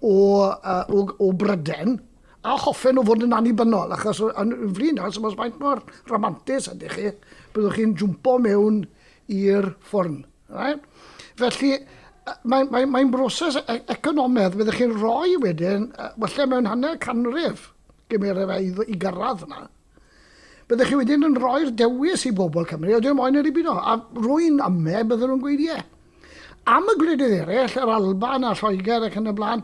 o, o, o Bryden a hoffen o fod yn annibynnol, achos yn flin achos os faint mor ramantus ydych chi, byddwch chi'n jwmpo mewn i'r ffwrn. Right? Felly, mae'n mae, mae broses e-, economedd, byddwch chi'n rhoi wedyn, falle mewn hanner canrif, gymeraf i gyrraedd yna. Byddech chi wedyn yn rhoi'r dewis i bobl Cymru, ydyn nhw moyn yr IBO? A rwy'n ame, bydden nhw'n gweud ie. Am y gwledydd eraill, yr Alban a Lloegr ac yn y blaen,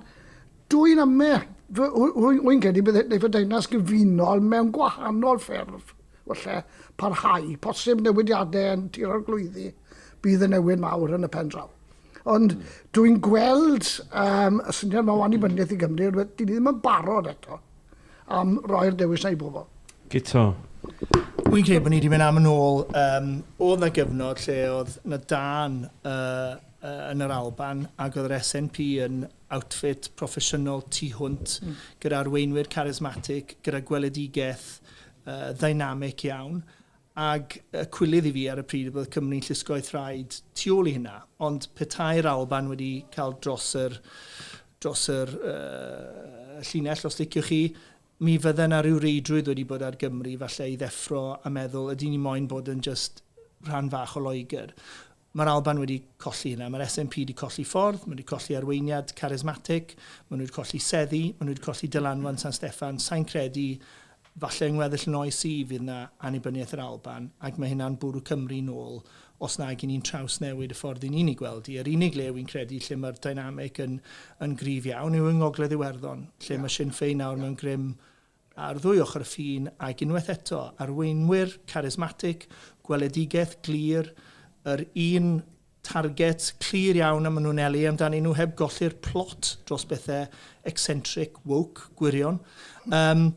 dwy'n ame, rwy'n credu bydd y Deyrnas Gyfunol mewn gwahanol ffurf, falle, parhau, posib newidiadau yn Tir Arglwyddi, bydd y newid mawr yn y pen draw. Ond dwy'n gweld um, y syniad mae o annibyniaeth i Gymru, rhywbeth dyn ni ddim yn barod eto. am roi'r dewis na i bobl. Guto. Wi'n credu bod ni wedi mynd am yn ôl, um, oedd na gyfnod lle oedd na dan uh, uh, yn yr Alban ac oedd yr SNP yn outfit proffesiynol tu hwnt mm. gyda arweinwyr charismatic, gyda gweledigaeth uh, ddynamic iawn Ac y cwilydd i fi ar y pryd oedd bod Cymru'n llusgo'u thraed tu ôl i hynna. Ond petai'r Alban wedi cael dros yr, dros yr uh, llinell, os liciwch chi, mi fydde yna rhyw reidrwydd wedi bod ar Gymru falle i ddeffro a meddwl ydy ni moyn bod yn just rhan fach o Loegr. Mae'r Alban wedi colli hynna. Mae'r SNP wedi colli ffordd, maen nhw wedi colli arweiniad carismatic, maen nhw wedi colli seddi, maen nhw wedi colli dylanwad San Steffan. Sain credu, falle yng ngweddill yn oes i, fydd yna annibyniaeth yr Alban, ac mae hynna'n bwrw Cymru nôl, os nag i ni'n trawsnewid y ffordd i ni'n ei gweld hi. Yr unig le wi'n credu lle mae'r dynamic yn yn gryf iawn yw yng Ngogledd Iwerddon, lle mae Sinn Fein nawr mewn grym Ar ddwy ochr y ffin, ac unwaith eto, arweinwyr carismatig, gweledigaeth glir, yr un target clir iawn a maen nhw'n eli amdanyn nhw heb golli'r plot dros bethau eccentric, woke, gwirion. Um,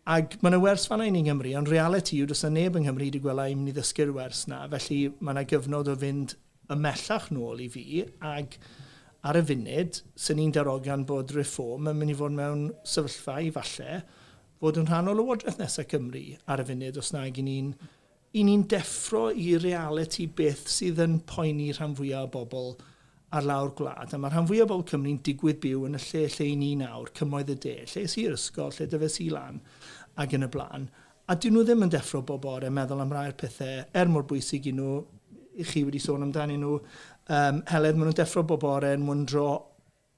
Ac mae yna wers fanna i ni yng Nghymru, ond reality yw, does yna neb yng Nghymru wedi gweld a i'n mynd i ddysgu'r wers na, felly mae yna gyfnod o fynd ymhellach nôl i fi ac ar y funud, swn i'n darogan bod Reform yn mynd i fod mewn sefyllfa i falle fod yn rhan o Lywodraeth nesaf Cymru ar y funud os nag i ni'n i ni'n deffro i realiti beth sydd yn poeni rhan fwyaf o bobl ar lawr gwlad. A mae rhan fwyaf o bobl Cymru'n digwydd byw yn y lle lle i ni nawr, cymoedd y de, lle es i i'r ysgol, lle dyfes i lan ac yn y blaen. A 'dyn nhw ddim yn deffro bob bore meddwl am rai o'r pethe er mor bwysig i nhw, chi wedi sôn amdanyn nhw yym Heledd, ma' nhw'n deffro bob bore yn wyndro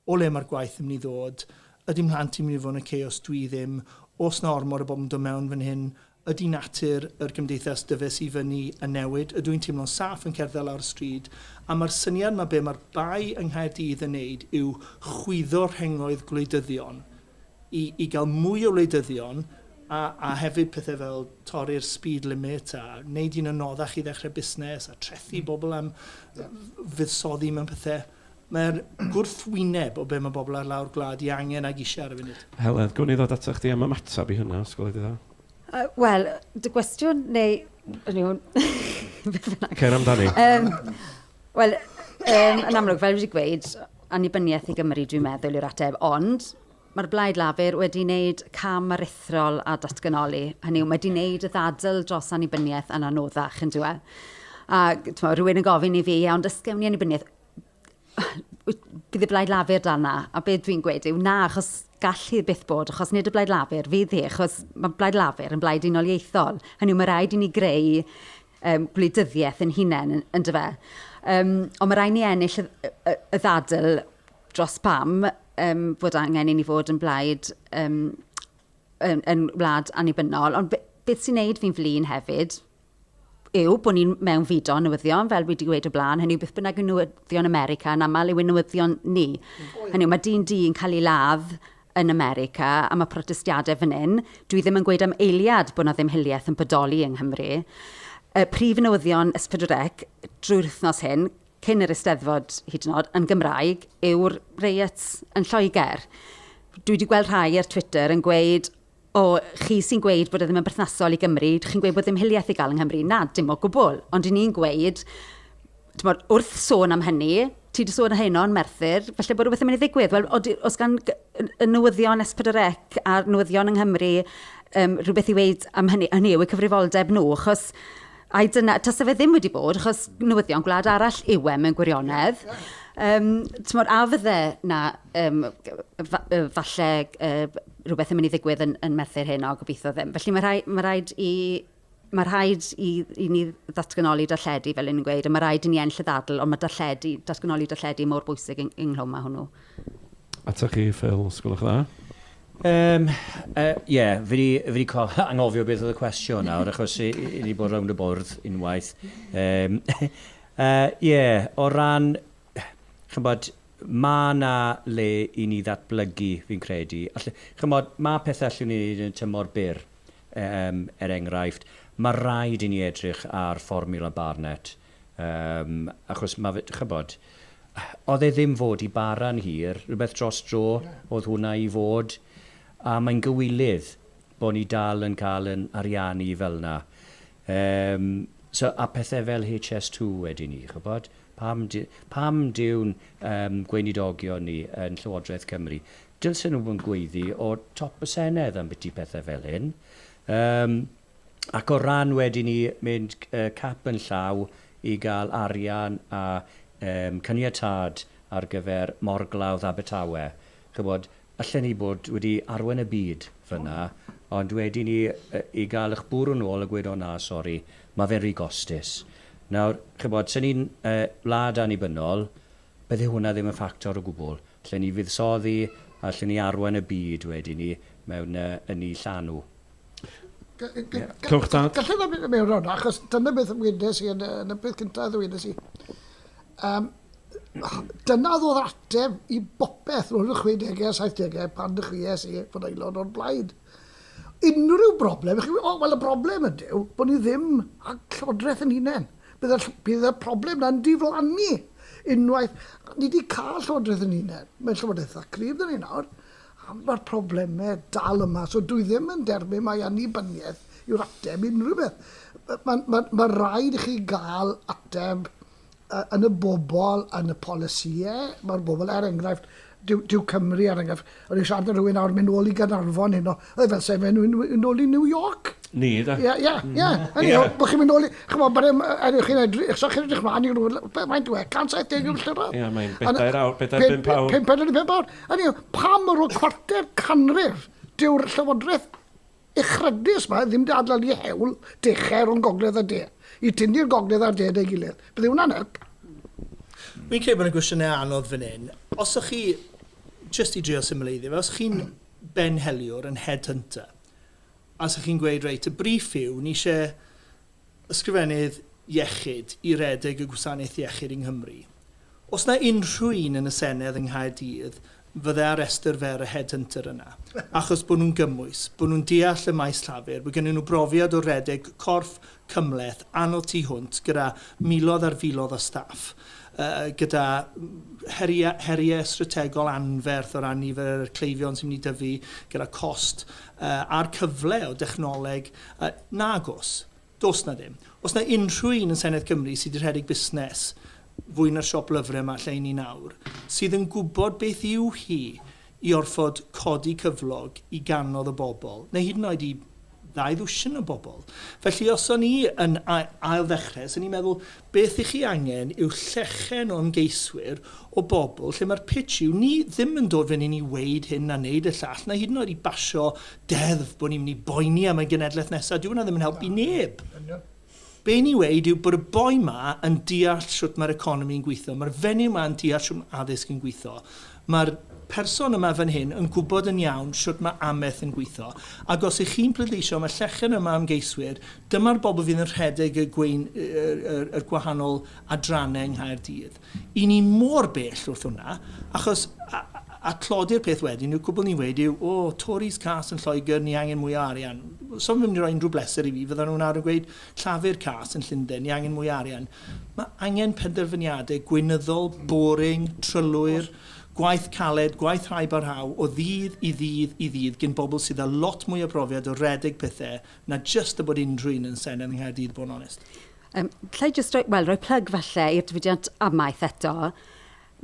o le ma'r gwaith yn myn' i ddod, ydi mhlant i'n myn' i fod yn ocê os dwi ddim, o's 'na ormod o bobl yn dod mewn fan hyn, ydi natur yr gymdeithas dyfes i fyny yn newid, ydw i'n teimlo'n saff yn cerdded lawr y stryd, a ma'r syniad 'ma be' ma'r bai yng Nghaerdydd yn neud yw chwyddo rhengoedd gwleidyddion, i i gael mwy o wleidyddion a a hefyd pethau fel torri'r speed limit a wneud hi'n anoddach i ddechrau busnes a trethu mm. bobl am fuddsoddi mewn pethau mae'r gwrthwyneb o be mae bobl ar lawr gwlad i angen ag eisiau ar y funud. Heledd, gwn i ddod ato chdi am ymateb i hynna, os gweled i dda. Uh, Wel, dy gwestiwn neu... Cer amdani. Um, Wel, um, yn amlwg, fel wedi gweud, annibyniaeth i Gymru, dwi'n meddwl, yw'r ateb, ond mae'r Blaid Lafur wedi wneud cam aruthrol a datganoli. Hynny yw, mae wedi wneud y ddadl dros annibyniaeth yn anoddach yn diwedd. A tmo, rhywun yn gofyn i fi, iawn, dysgem ni annibyniaeth. Bydd y Blaid Lafur dan na, a beth dwi'n gweud yw na, achos gall hi byth bod, achos nid y Blaid Lafur fydd hi, achos mae Blaid Lafur yn blaid unoliaethol. Hynny yw, mae rhaid i ni greu um, gwleidyddiaeth yn hunain, yn dyfa. Um, ond mae rhaid ni ennill y, y, y ddadl dros pam um, fod angen i ni fod yn blaid um, yn, yn wlad annibynnol. Ond beth sy'n neud fi'n flin hefyd yw bod ni'n mewn fido newyddion, fel wedi dweud o blaen, hynny yw beth bynnag yw newyddion America yn aml yw newyddion ni. Mm. Hynny yw, mae dyn di yn cael ei ladd yn America am y protestiadau fan hyn, dwi ddim yn gweud am eiliad bod 'na ddim hiliaeth yn bodoli yng Nghymru. Y prif newyddion S4C drwy'r wythnos hyn, cyn yr Eisteddfod hyd yn oed, yn Gymraeg, yw'r riots yn Lloegr. Dwi wedi gweld rhai ar Twitter yn gweud O, chi sy'n gweud bod e ddim yn berthnasol i Gymru, dych chi'n gweud bod dim hiliaeth i gael yng Nghymru. Na, dim o gwbl. Ond 'y ni'n gweud, timod, wrth sôn am hynny, ti 'di sôn heno yn Merthyr, falle bod rhywbeth yn mynd i ddigwydd. Wel, odi- oes gan g- y y newyddion S4C a'r newyddion yng Nghymru yym rhywbeth i weud am hynny? Hynny yw, eu cyfrifoldeb nhw, achos ai dyna... tase fe ddim wedi bod, achos newyddion gwlad arall yw e mewn gwirionedd. Yym, timod, a fyddai 'na yym g- f- yy falle yy... rhywbeth yn mynd i ddigwydd yn, yn Merthyr hyn, o gobeithio ddim. Felly mae rhaid, mae rhaid i mae rhaid i, i ni ddatganoli darlledu, fel yn gweud, a mae rhaid i ni enll y ddadl, ond mae darlledu, datganoli darlledu mor bwysig yng, ynglwm mae hwnnw. Ata chi, Phil, os gwelwch dda? Um, uh, yeah, fi wedi cael angofio beth oedd y cwestiwn nawr, achos i wedi bod rownd y bwrdd unwaith. Um, uh, yeah, o ran ch'mbod, ma' 'na le i ni ddatblygu fi'n credu. All-, ch'mbod, ma' pethe allwn ni neud yn y tymor byr, yym, er enghraifft, ma' raid i ni edrych ar fformiwla Barnett, yym, achos ma' fe, ch'mbod, o'dd e ddim fod i bara'n hir, rwbeth dros dro o'dd hwnna i fod, a mae'n gywilydd bo' ni dal yn ca'l 'yn ariannu fel 'na. Yym, so, a pethe fel HS two wedyn 'ny, ch'bod? Pam dy- pam dyw'n yym gweinidogion ni yn Llywodraeth Cymru, dylsen nhw fod yn gweiddi o top y Senedd ambiti pethe fel hyn? Yym, ac o ran wedyn 'ny mynd c- yy cap yn llaw i ga'l arian a yym caniatâd ar gyfer morglawdd Abertawe, ch'mod, allen ni bod wedi arwain y byd fynna, ond wedyn i yy i ga'l 'ych bwrw nôl a gweud, 'O na, sori, ma' fe'n rhy gostus'. Nawr, ch'mod, 'se ni'n yy wlad annibynnol, bydde hwnna ddim yn ffactor o gwbwl. Allen ni fuddsoddi, allen ni arwain y byd wedyn 'ny mewn yy ynni llanw. Clywch tad. Gallai ddod mynd mewn rhan, achos dyna beth ymwyndes i yn, yn y peth cyntaf ddwyndes i. Um, dyna ddod ateb i bopeth roedd y 60au a 70au pan ddechreuais i fod aelod o'r blaid. Unrhyw broblem, chi, oh, wel y broblem ydyw bod ni ddim a llywodraeth yn hunain. Bydd y, bydd y problem na'n diflannu unwaith. Ni wedi cael llywodraeth yn hunain. Mae'n llywodraeth dda cryf dyn ni nawr. Am fod problemau dal yma, so dwi ddim yn derbyn mai annibyniaeth yw'r ateb i unrhyw beth. Mae'n ma, ma rhaid i chi gael ateb yn y bobl, yn y polisïau, mae'r bobl, er enghraifft, dyw, dyw Cymru, er enghraifft, o'n i'n siarad â rhywun nawr, mynd nôl i Gaernarfon hyn o, oedd e fel sef e'n mynd nôl i New York. Ni, da. Ie, ie, ie. Hynny yw, bod chi'n mynd nôl i, chymod, bod e'n, er yw chi'n edrych, so chi'n edrych mlaen i rhywun, mae'n dweud, 170 milltir awr. Ie, mae'n bedair awr, bedair bimp awr. Pimp awr, pimp awr. Hynny yw, pam ar ôl cwarter canrif dyw'r llywodraeth uchryddus yma ddim wedi adlanu ei hewl dechau rhwng gogledd a de, i tynnu'r gogledd a'r de at ei gilydd? Bydde hwnna'n help. Fi'n credu bod yna gwestiynau anodd fan hyn. Os o'ch chi, jyst i drio symleiddio fe, os o'ch chi'n benheliwr yn headhunter, a os o'ch chi'n gweud, reit, y briff yw, ni eisiau Ysgrifennydd Iechyd i redeg y gwasanaeth iechyd yng Nghymru. Os na unrhyw un yn y Senedd yng Nghaerdydd fydde ar restr fer y headhunter yna, achos bod nhw'n gymwys, bod nhw'n deall y maes llafur, bod gennyn nhw brofiad o redeg corff cymhleth anodd tu hwnt gyda miloedd ar filoedd o staff, gyda heria, heriau strategol anferth o ran nifer y cleifion sy'n mynd i dyfu, gyda cost a'r cyfle o dechnoleg A, nag oes. Does 'na ddim. Oes 'na unrhyw un yn Senedd Cymru sy 'di rhedeg busnes fwy na'r siop lyfrau 'ma lle 'yn ni nawr, sydd yn gwybod beth yw hi i orfod codi cyflog i ganodd o bobl, neu hyd yn oed i ddau ddwsin o bobl? Felly, os o'n i yn ail-ddechrau, 'swn i'n meddwl, Beth i chi angen yw llechen o ymgeiswyr, o bobl lle mae'r pitch yw ni ddim yn dod fyny ni weud hyn na neud y llall na hyd yn oed i basio deddf bod ni mynd i boeni am y genedlaeth nesa, dyw hwnna ddim yn helpu neb. Be ni weud yw bod y boi ma yn deall shwt mae'r economi yn gwitho, mae'r fenyw ma yn deall shwt mae addysg yn gwitho. Mae'r person yma fan hyn yn gwybod yn iawn shwt mae amaeth yn gweithio, ac os ych chi'n pleidleisio am y llechen yma o ymgeiswyr, dyma'r bobl fydd yn rhedeg y gwein- y y gwahanol adrannau yng Nghaerdydd. I ni mor bell wrth hwnna, achos a a tlodi'r peth wedyn yw cwbl ni'n weud yw, o, Tories cas yn Lloegr, ni angen mwy o arian. Os o'n nhw'n mynd i roi unrhyw bleser i fi, fyddan nhw'n nawr yn gweud, Llafur cas yn Llundain, ni angen mwy o arian. Mae angen penderfyniadau gweinyddol, boring, trylwyr, gwaith caled, gwaith rhai barhau, o ddydd i ddydd i ddydd gin bobl sydd â lot mwy o brofiad o redeg pethau na jyst y bod unrhyw un yn Senedd yng Nghaerdydd bod yn onest. Yym, alla i jyst roi, wel, roi plug falle i'r diwydiant amaeth eto.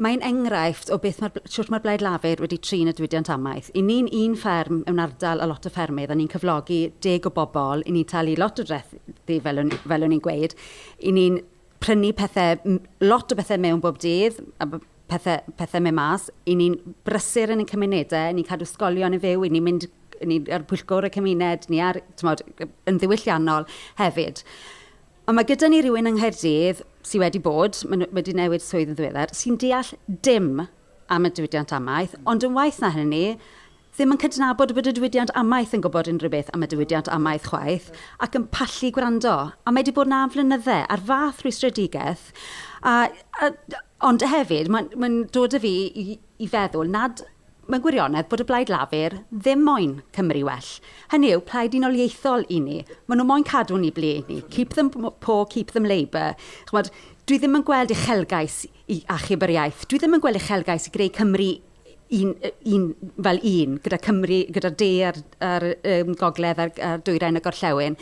Mae'n enghraifft o beth mae'r, shwt mae'r Blaid Lafur wedi trin y diwydiant amaeth. I ni'n un fferm mewn ardal o lot o ffermydd a ni'n cyflogi deg o bobl, i ni'n talu lot o drethi fel o'n, fel o'n i'n gweud, i ni'n prynu pethe, lot o bethe mewn bob dydd, a pethe, pethe mewn mas, i ni'n brysur yn ein cymunedau, i ni'n cadw sgolion yn fyw, i ni'n mynd ni ar bwyllgor y cymuned, ni ar, tmod, yn ddiwylliannol hefyd. Ond mae gyda ni rywun yng Nghaerdydd sydd wedi bod, wedi newid swydd yn ddiweddar, sy'n deall dim am y diwydiant amaeth, ond yn waeth na hynny, ddim yn cydnabod bod y diwydiant amaeth yn gwybod unrhyw beth am y diwydiant amaeth chwaith, ac yn pallu gwrando. A mae wedi bod yna am flynyddau, a'r fath rwystredigaeth. A, a, ond hefyd, mae'n mae dod â fi i, i feddwl nad, mewn gwirionedd, bod y Blaid Lafur ddim moyn Cymru well. Hynny yw, plaid unoliaethol i ni. Maen nhw moyn cadw ni ble i ni. Keep them poor, keep them labour. Chimod, dwi ddim yn gweld uchelgais i achub yr iaith. Dwi ddim yn gweld uchelgais i greu Cymru un, un, fel un, gyda Cymru, gyda'r de a'r, a'r um, gogledd a'r, a'r dwyrain y gorllewin.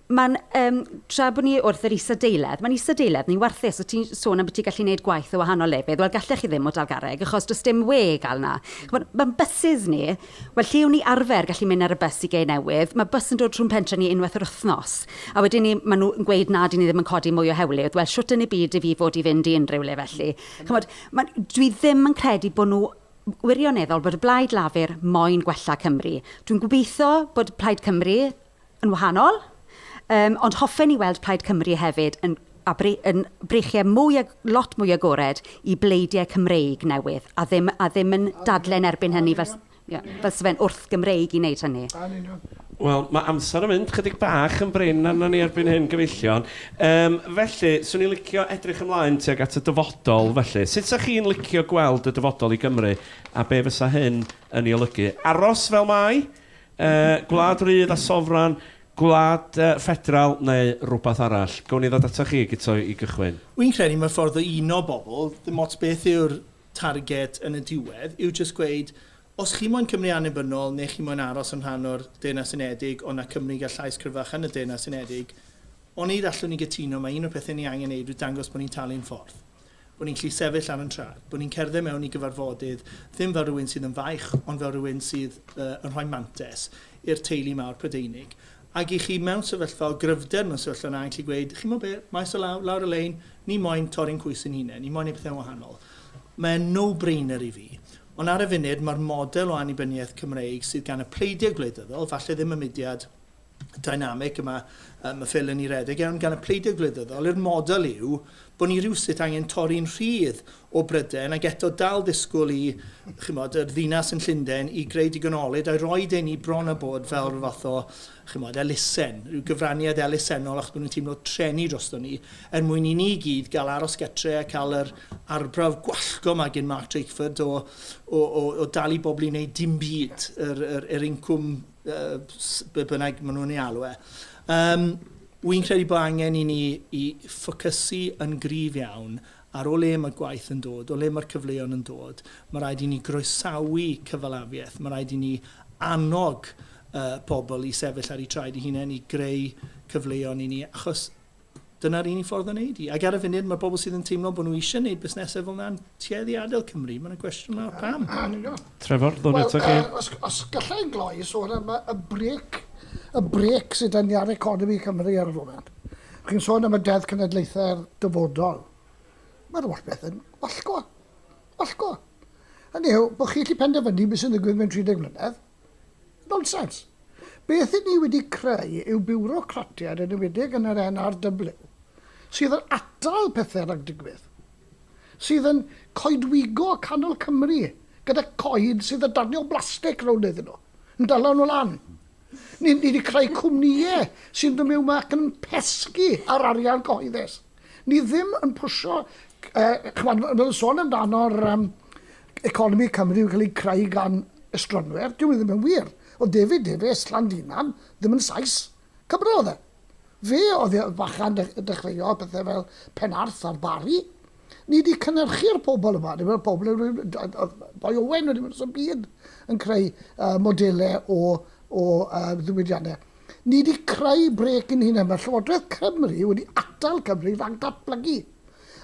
Mae'n, yym, tra bod ni wrth yr isadeiledd, mae'n isadeiledd ni warthus, o ti'n sôn am bod ti'n gallu gwneud gwaith o wahanol lefydd, wel gallech chi ddim o Dalgarreg achos does dim we i gael 'na. Chimod, mae'n bysus ni, wel lle o'n ni arfer gallu mynd ar y bws i Gei Newydd, mae bws yn dod rhwng pentre ni unwaith yr wythnos, a wedyn ni, maen nhw yn gweud na 'dyn ni ddim yn codi mwy o hewlydd, wel shwt yn y byd i fi fod i fynd i unrhyw le felly? Chimod, mae'n, dwi ddim yn credu bod nhw wirioneddol, bod y Blaid Lafur moyn gwella Cymru. Dwi'n gobeitho bod Plaid Cymru, yn wahanol, um, ond hoffen i weld Plaid Cymru hefyd yn a bre, yn breichiau mwy, lot mwy agored i bleidiau Cymreig newydd, a ddim, a ddim yn dadlen erbyn hynny fel, yeah, fel sefyn wrth Gymreig i wneud hynny. Wel, mae amser yn mynd chydig bach yn brin arno ni erbyn hyn gyfeillion. Um, felly, swn i'n licio edrych ymlaen tuag at y dyfodol, felly. Sut sa chi'n licio gweld y dyfodol i Gymru, a be fysa hyn yn ei olygu? Aros fel mai? Gwlad rydd a sofran, gwlad ffedral neu rywbeth arall? Gawn ni ddod atoch chi, Guto, i gychwyn? Wi'n credu mae'r ffordd o uno bobl, ddim ots beth yw'r target yn y diwedd, yw jyst gweud, os chi moyn Cymru annibynnol neu chi moyn aros yn rhan o'r Deyrnas Unedig ond â Cymru gael llais cryfach yn y Deyrnas Unedig, onid allwn ni gytuno mai un o'r pethau ni angen ei wneud yw dangos bod ni'n talu'n ffordd? Bo' ni'n gallu sefyll ar yn traed. Bo' ni'n cerdded mewn i gyfarfodydd, ddim fel rhywun sydd yn faich, ond fel rhywun sydd yy yn rhoi mantes i'r teulu mawr Prydeinig. Ag i chi mewn sefyllfa o gryfder, mewn sefyllfa yna, yn gallu gweud, chi'n gwybod be, maes o law, lawr y lein, ni moyn torri'n coes ein hunain, ni moyn neud pethe'n wahanol. Mae e'n no-brainer i fi. Ond ar y funud, mae'r model o annibyniaeth Cymreig sydd gan y pleidiau gwleidyddol, falle ddim y mudiad, dynamig yma, um, y ffilyn i redeg iawn gan y pleidiau gwleidyddol i'r model yw bod ni rhywsut angen torri'n rhydd o Bryden ac eto dal disgwyl i chymod, yr ddinas yn Llundain i greu digon olyd a'i roi dyn ni bron a bod fel rhyw fath o chymod, elusen, rhyw gyfraniad elusennol achos bod nhw'n teimlo trenu drosto ni er mwyn i ni gyd gael aros getre a cael yr arbrawf gwallgo mae gen Mark Drakeford o, o, o, o dal i bobl i wneud dim byd yr, yr, yr incwm be bynnag maen nhw'n ei alw e. Um, Wy'n credu bod angen i ni i ffocysu yn gryf iawn ar o le mae gwaith yn dod, o le mae'r cyfleon yn dod. Mae rhaid i ni groesawu cyfalafiaeth, mae rhaid i ni annog uh, pobl i sefyll ar eu traed i hunain i greu cyfleon i ni, achos Dyna'r unig ffordd o wneud hi. Ac ar y funud, mae pobl sydd yn teimlo bod nhw eisiau gwneud busnesau fel yna'n tueddu i adael Cymru. Mae'n gwestiwn mawr pam. Trevor, ddod eto chi. Os, os gallai yn gloi sôn am y brec, y brec sydd yn ar economi Cymru ar y foment. Chi'n sôn am y Deddf Cenedlaethau'r Dyfodol. Mae'r holl beth yn wallgo. Wallgo. Hynny yw, bod chi allu penderfynu beth sy'n ddigwydd mewn 30 mlynedd, Nonsens! Beth i ni wedi creu yw biwrocratiaid yn enwedig yn yr NRW sydd yn atal pethau rhag digwydd, sydd yn coedwigo canol Cymru gyda coed sydd yn danio blastig rownd iddyn nhw, yn dala nhw lan. Ni, ni wedi creu cwmnïau sy'n dod mewn ac yn pesgi ar arian cyhoeddus. Ni ddim yn pwysio, uh, chymod, fel sôn amdano'r um, economi Cymru yn cael ei creu gan estronwyr, dyw e ddim yn wir. Oedd David Davies, Llandinam, ddim yn Sais, Cymro oedd e. Fe oedd y fachan dechreuodd pethau fel Penarth a'r Bari. Ni wedi cynhyrchu'r pobl yma, neu pobl yn Boi Owen wedi mynd y byd yn creu uh, modelau o, o uh, ddiwydiannau. Ni wedi creu brec yn hyn yma. Llywodraeth Cymru wedi atal Cymru rhag datblygu.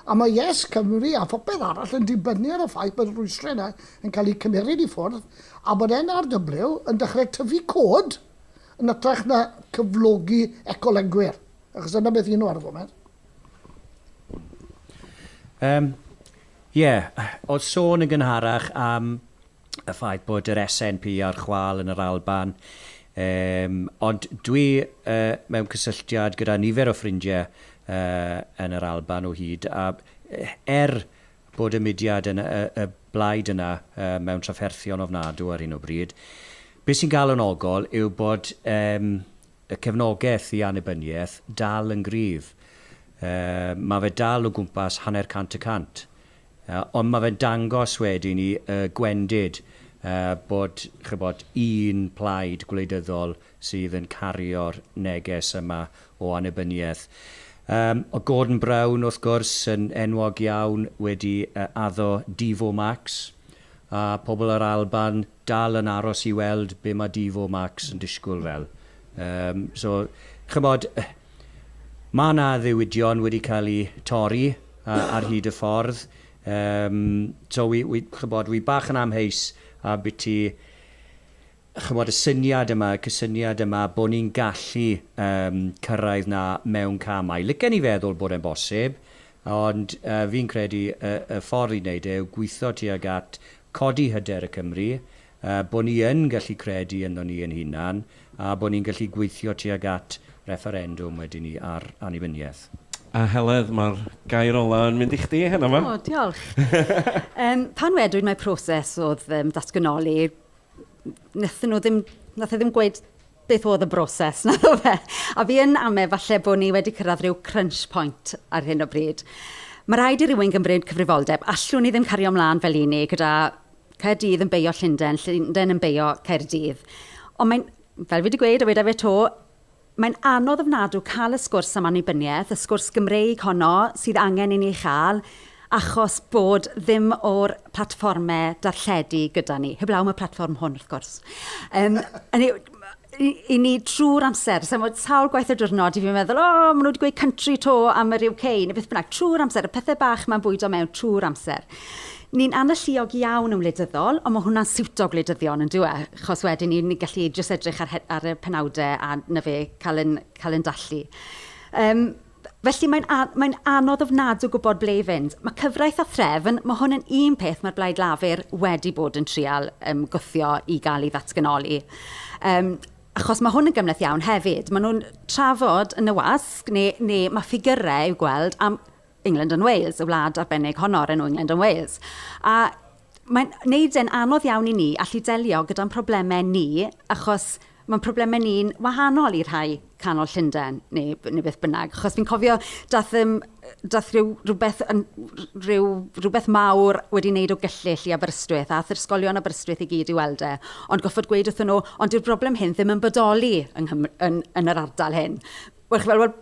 A mae Yes Cymru a phopeth arall yn dibynnu ar y ffaith bod y rhwystrau yna yn cael eu cymeryd i ffwrdd a bod NRW yn dechrau tyfu cod yn ytrach na cyflogi ecolygwyr, achos dyna beth y'n nhw ar y foment. Yym, ie, o'dd sôn yn gynharach am y ffaith bod yr SNP ar chwâl yn yr Alban, yym, ond dwi yy mewn cysylltiad gyda nifer o ffrindie yy yn yr Alban o hyd, a er bod y mudiad yn y y blaid yna yy mewn trafferthion ofnadw ar hyn o bryd, be' sy'n galonogol yw bod yym y cefnogeth i annibynieth dal yn gryf. Yy ma' fe dal o gwmpas hanner cant y cant. Ond mae fe'n dangos wedyn i y gwendid bod, chibod, un plaid gwleidyddol sydd yn cario'r neges yma o annibyniaeth. O' Gordon Brown, wrth gwrs, yn enwog iawn wedi addo Devo Max, a pobl yr Alban Dal yn aros i weld be mae Devo Max yn disgwyl fel. Yym, so, chymod, mae 'na ddiwydion wedi cael eu torri ar hyd y ffordd. Yym, so, wi, wi, chymod, wi bach yn amheus am biti, chymod, y syniad yma, y cysyniad yma, bod ni'n gallu um, cyrraedd na mewn camau. Licen i feddwl bod e'n bosib, ond uh, fi'n credu y, y ffordd i wneud e yw gweithio tuag at codi hyder y Cymry, bod ni yn gallu credu ynddo ni ein hunan a bod ni'n gallu gweithio tuag at refferendwm wedyn 'ny ar annibyniaeth. A Heledd, mae'r gair ola' yn mynd i chdi heno 'ma. O, diolch. Yym, pan wedwyd mai proses oedd yym datganoli, wnaethon nhw ddim, wnaeth e ddim gweud Beth oedd y broses? Na ddo fe? A fi yn ame falle bod ni wedi cyrraedd rhyw crunch point ar hyn o bryd. Mae rhaid i rywun gymryd cyfrifoldeb. Allwn ni ddim cario ymlaen fel i ni gyda Caerdydd yn beio Llundain, Llundain yn beio Caerdydd. Ond mae'n, fel fi wedi gweud a wedi fe to, mae'n anodd ofnadw cael y sgwrs am annibyniaeth, y sgwrs Gymreig honno sydd angen i ni chael, achos bod ddim o'r platfformau darlledu gyda ni, heblaw am y platfform hwn wrth gwrs. Um, i, i ni trwy'r amser, so mae sawl gwaith y diwrnod i fi'n meddwl, o, oh, maen nhw wedi gweud country to am yr UK, neu beth bynnag, trwy'r amser, y pethau bach mae'n bwydo mewn trwy'r amser. Ni'n analluog iawn yn wleidyddol, ond mae hwnna'n siwto gwleidyddion yn dweud, e? achos wedyn ni'n ni gallu jyst edrych ar, ar y penawdau a na fe cael yn, cael yn dallu. Um, Felly mae'n a- mae'n anodd ofnadw gwybod ble i fynd. Mae cyfraith a threfn, mae hwn yn un peth mae'r Blaid Lafur wedi bod yn trial um, gwthio i gael ei ddatganoli. Um, achos mae hwn yn gymleth iawn hefyd. Maen nhw'n trafod yn y wasg, neu, neu mae ffigurau i'w gweld am England and Wales, y wlad arbennig honno o'r enw England and Wales. A Mae'n neud e'n anodd iawn i ni allu delio gyda'n problemau ni, achos mae'n problemau ni'n wahanol i rhai canol Llundain, neu, neu beth bynnag. Achos fi'n cofio, dath, um, dath rhyw, rhywbeth, yn, rhyw, rhywbeth mawr wedi wneud o gyllyll i Aberystwyth, a ath'r ysgolion Aberystwyth i gyd i weld e. Ond goffod gweud wrthyn nhw, ond dyw'r broblem hyn ddim yn bodoli yng Nghymru, yn, yn yr ardal hyn. Wel, chi'n gweld, wel,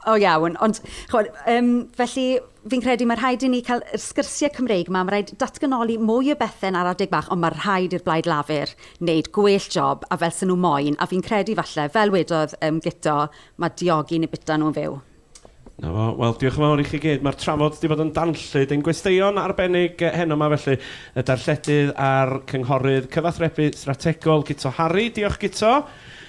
o iawn, ond chimod, yym, felly fi'n credu mae rhaid i ni cael yr sgyrsiau Cymreig 'ma, mae rhaid datganoli mwy o bethau ar adeg bach, ond mae rhaid i'r Blaid Lafur wneud gwell job a fel 'sen nhw moyn, a fi'n credu falle, fel wedodd yym Guto, mae diogi neu byta nhw'n fyw. Na fo. Wel, diolch yn fawr i chi gyd. Mae'r trafod wedi bod yn danllyd. Ein gwesteion arbennig heno yma felly, y darlledydd a'r cynghorydd cyfathrebu strategol, Guto Harri. Diolch, Guto.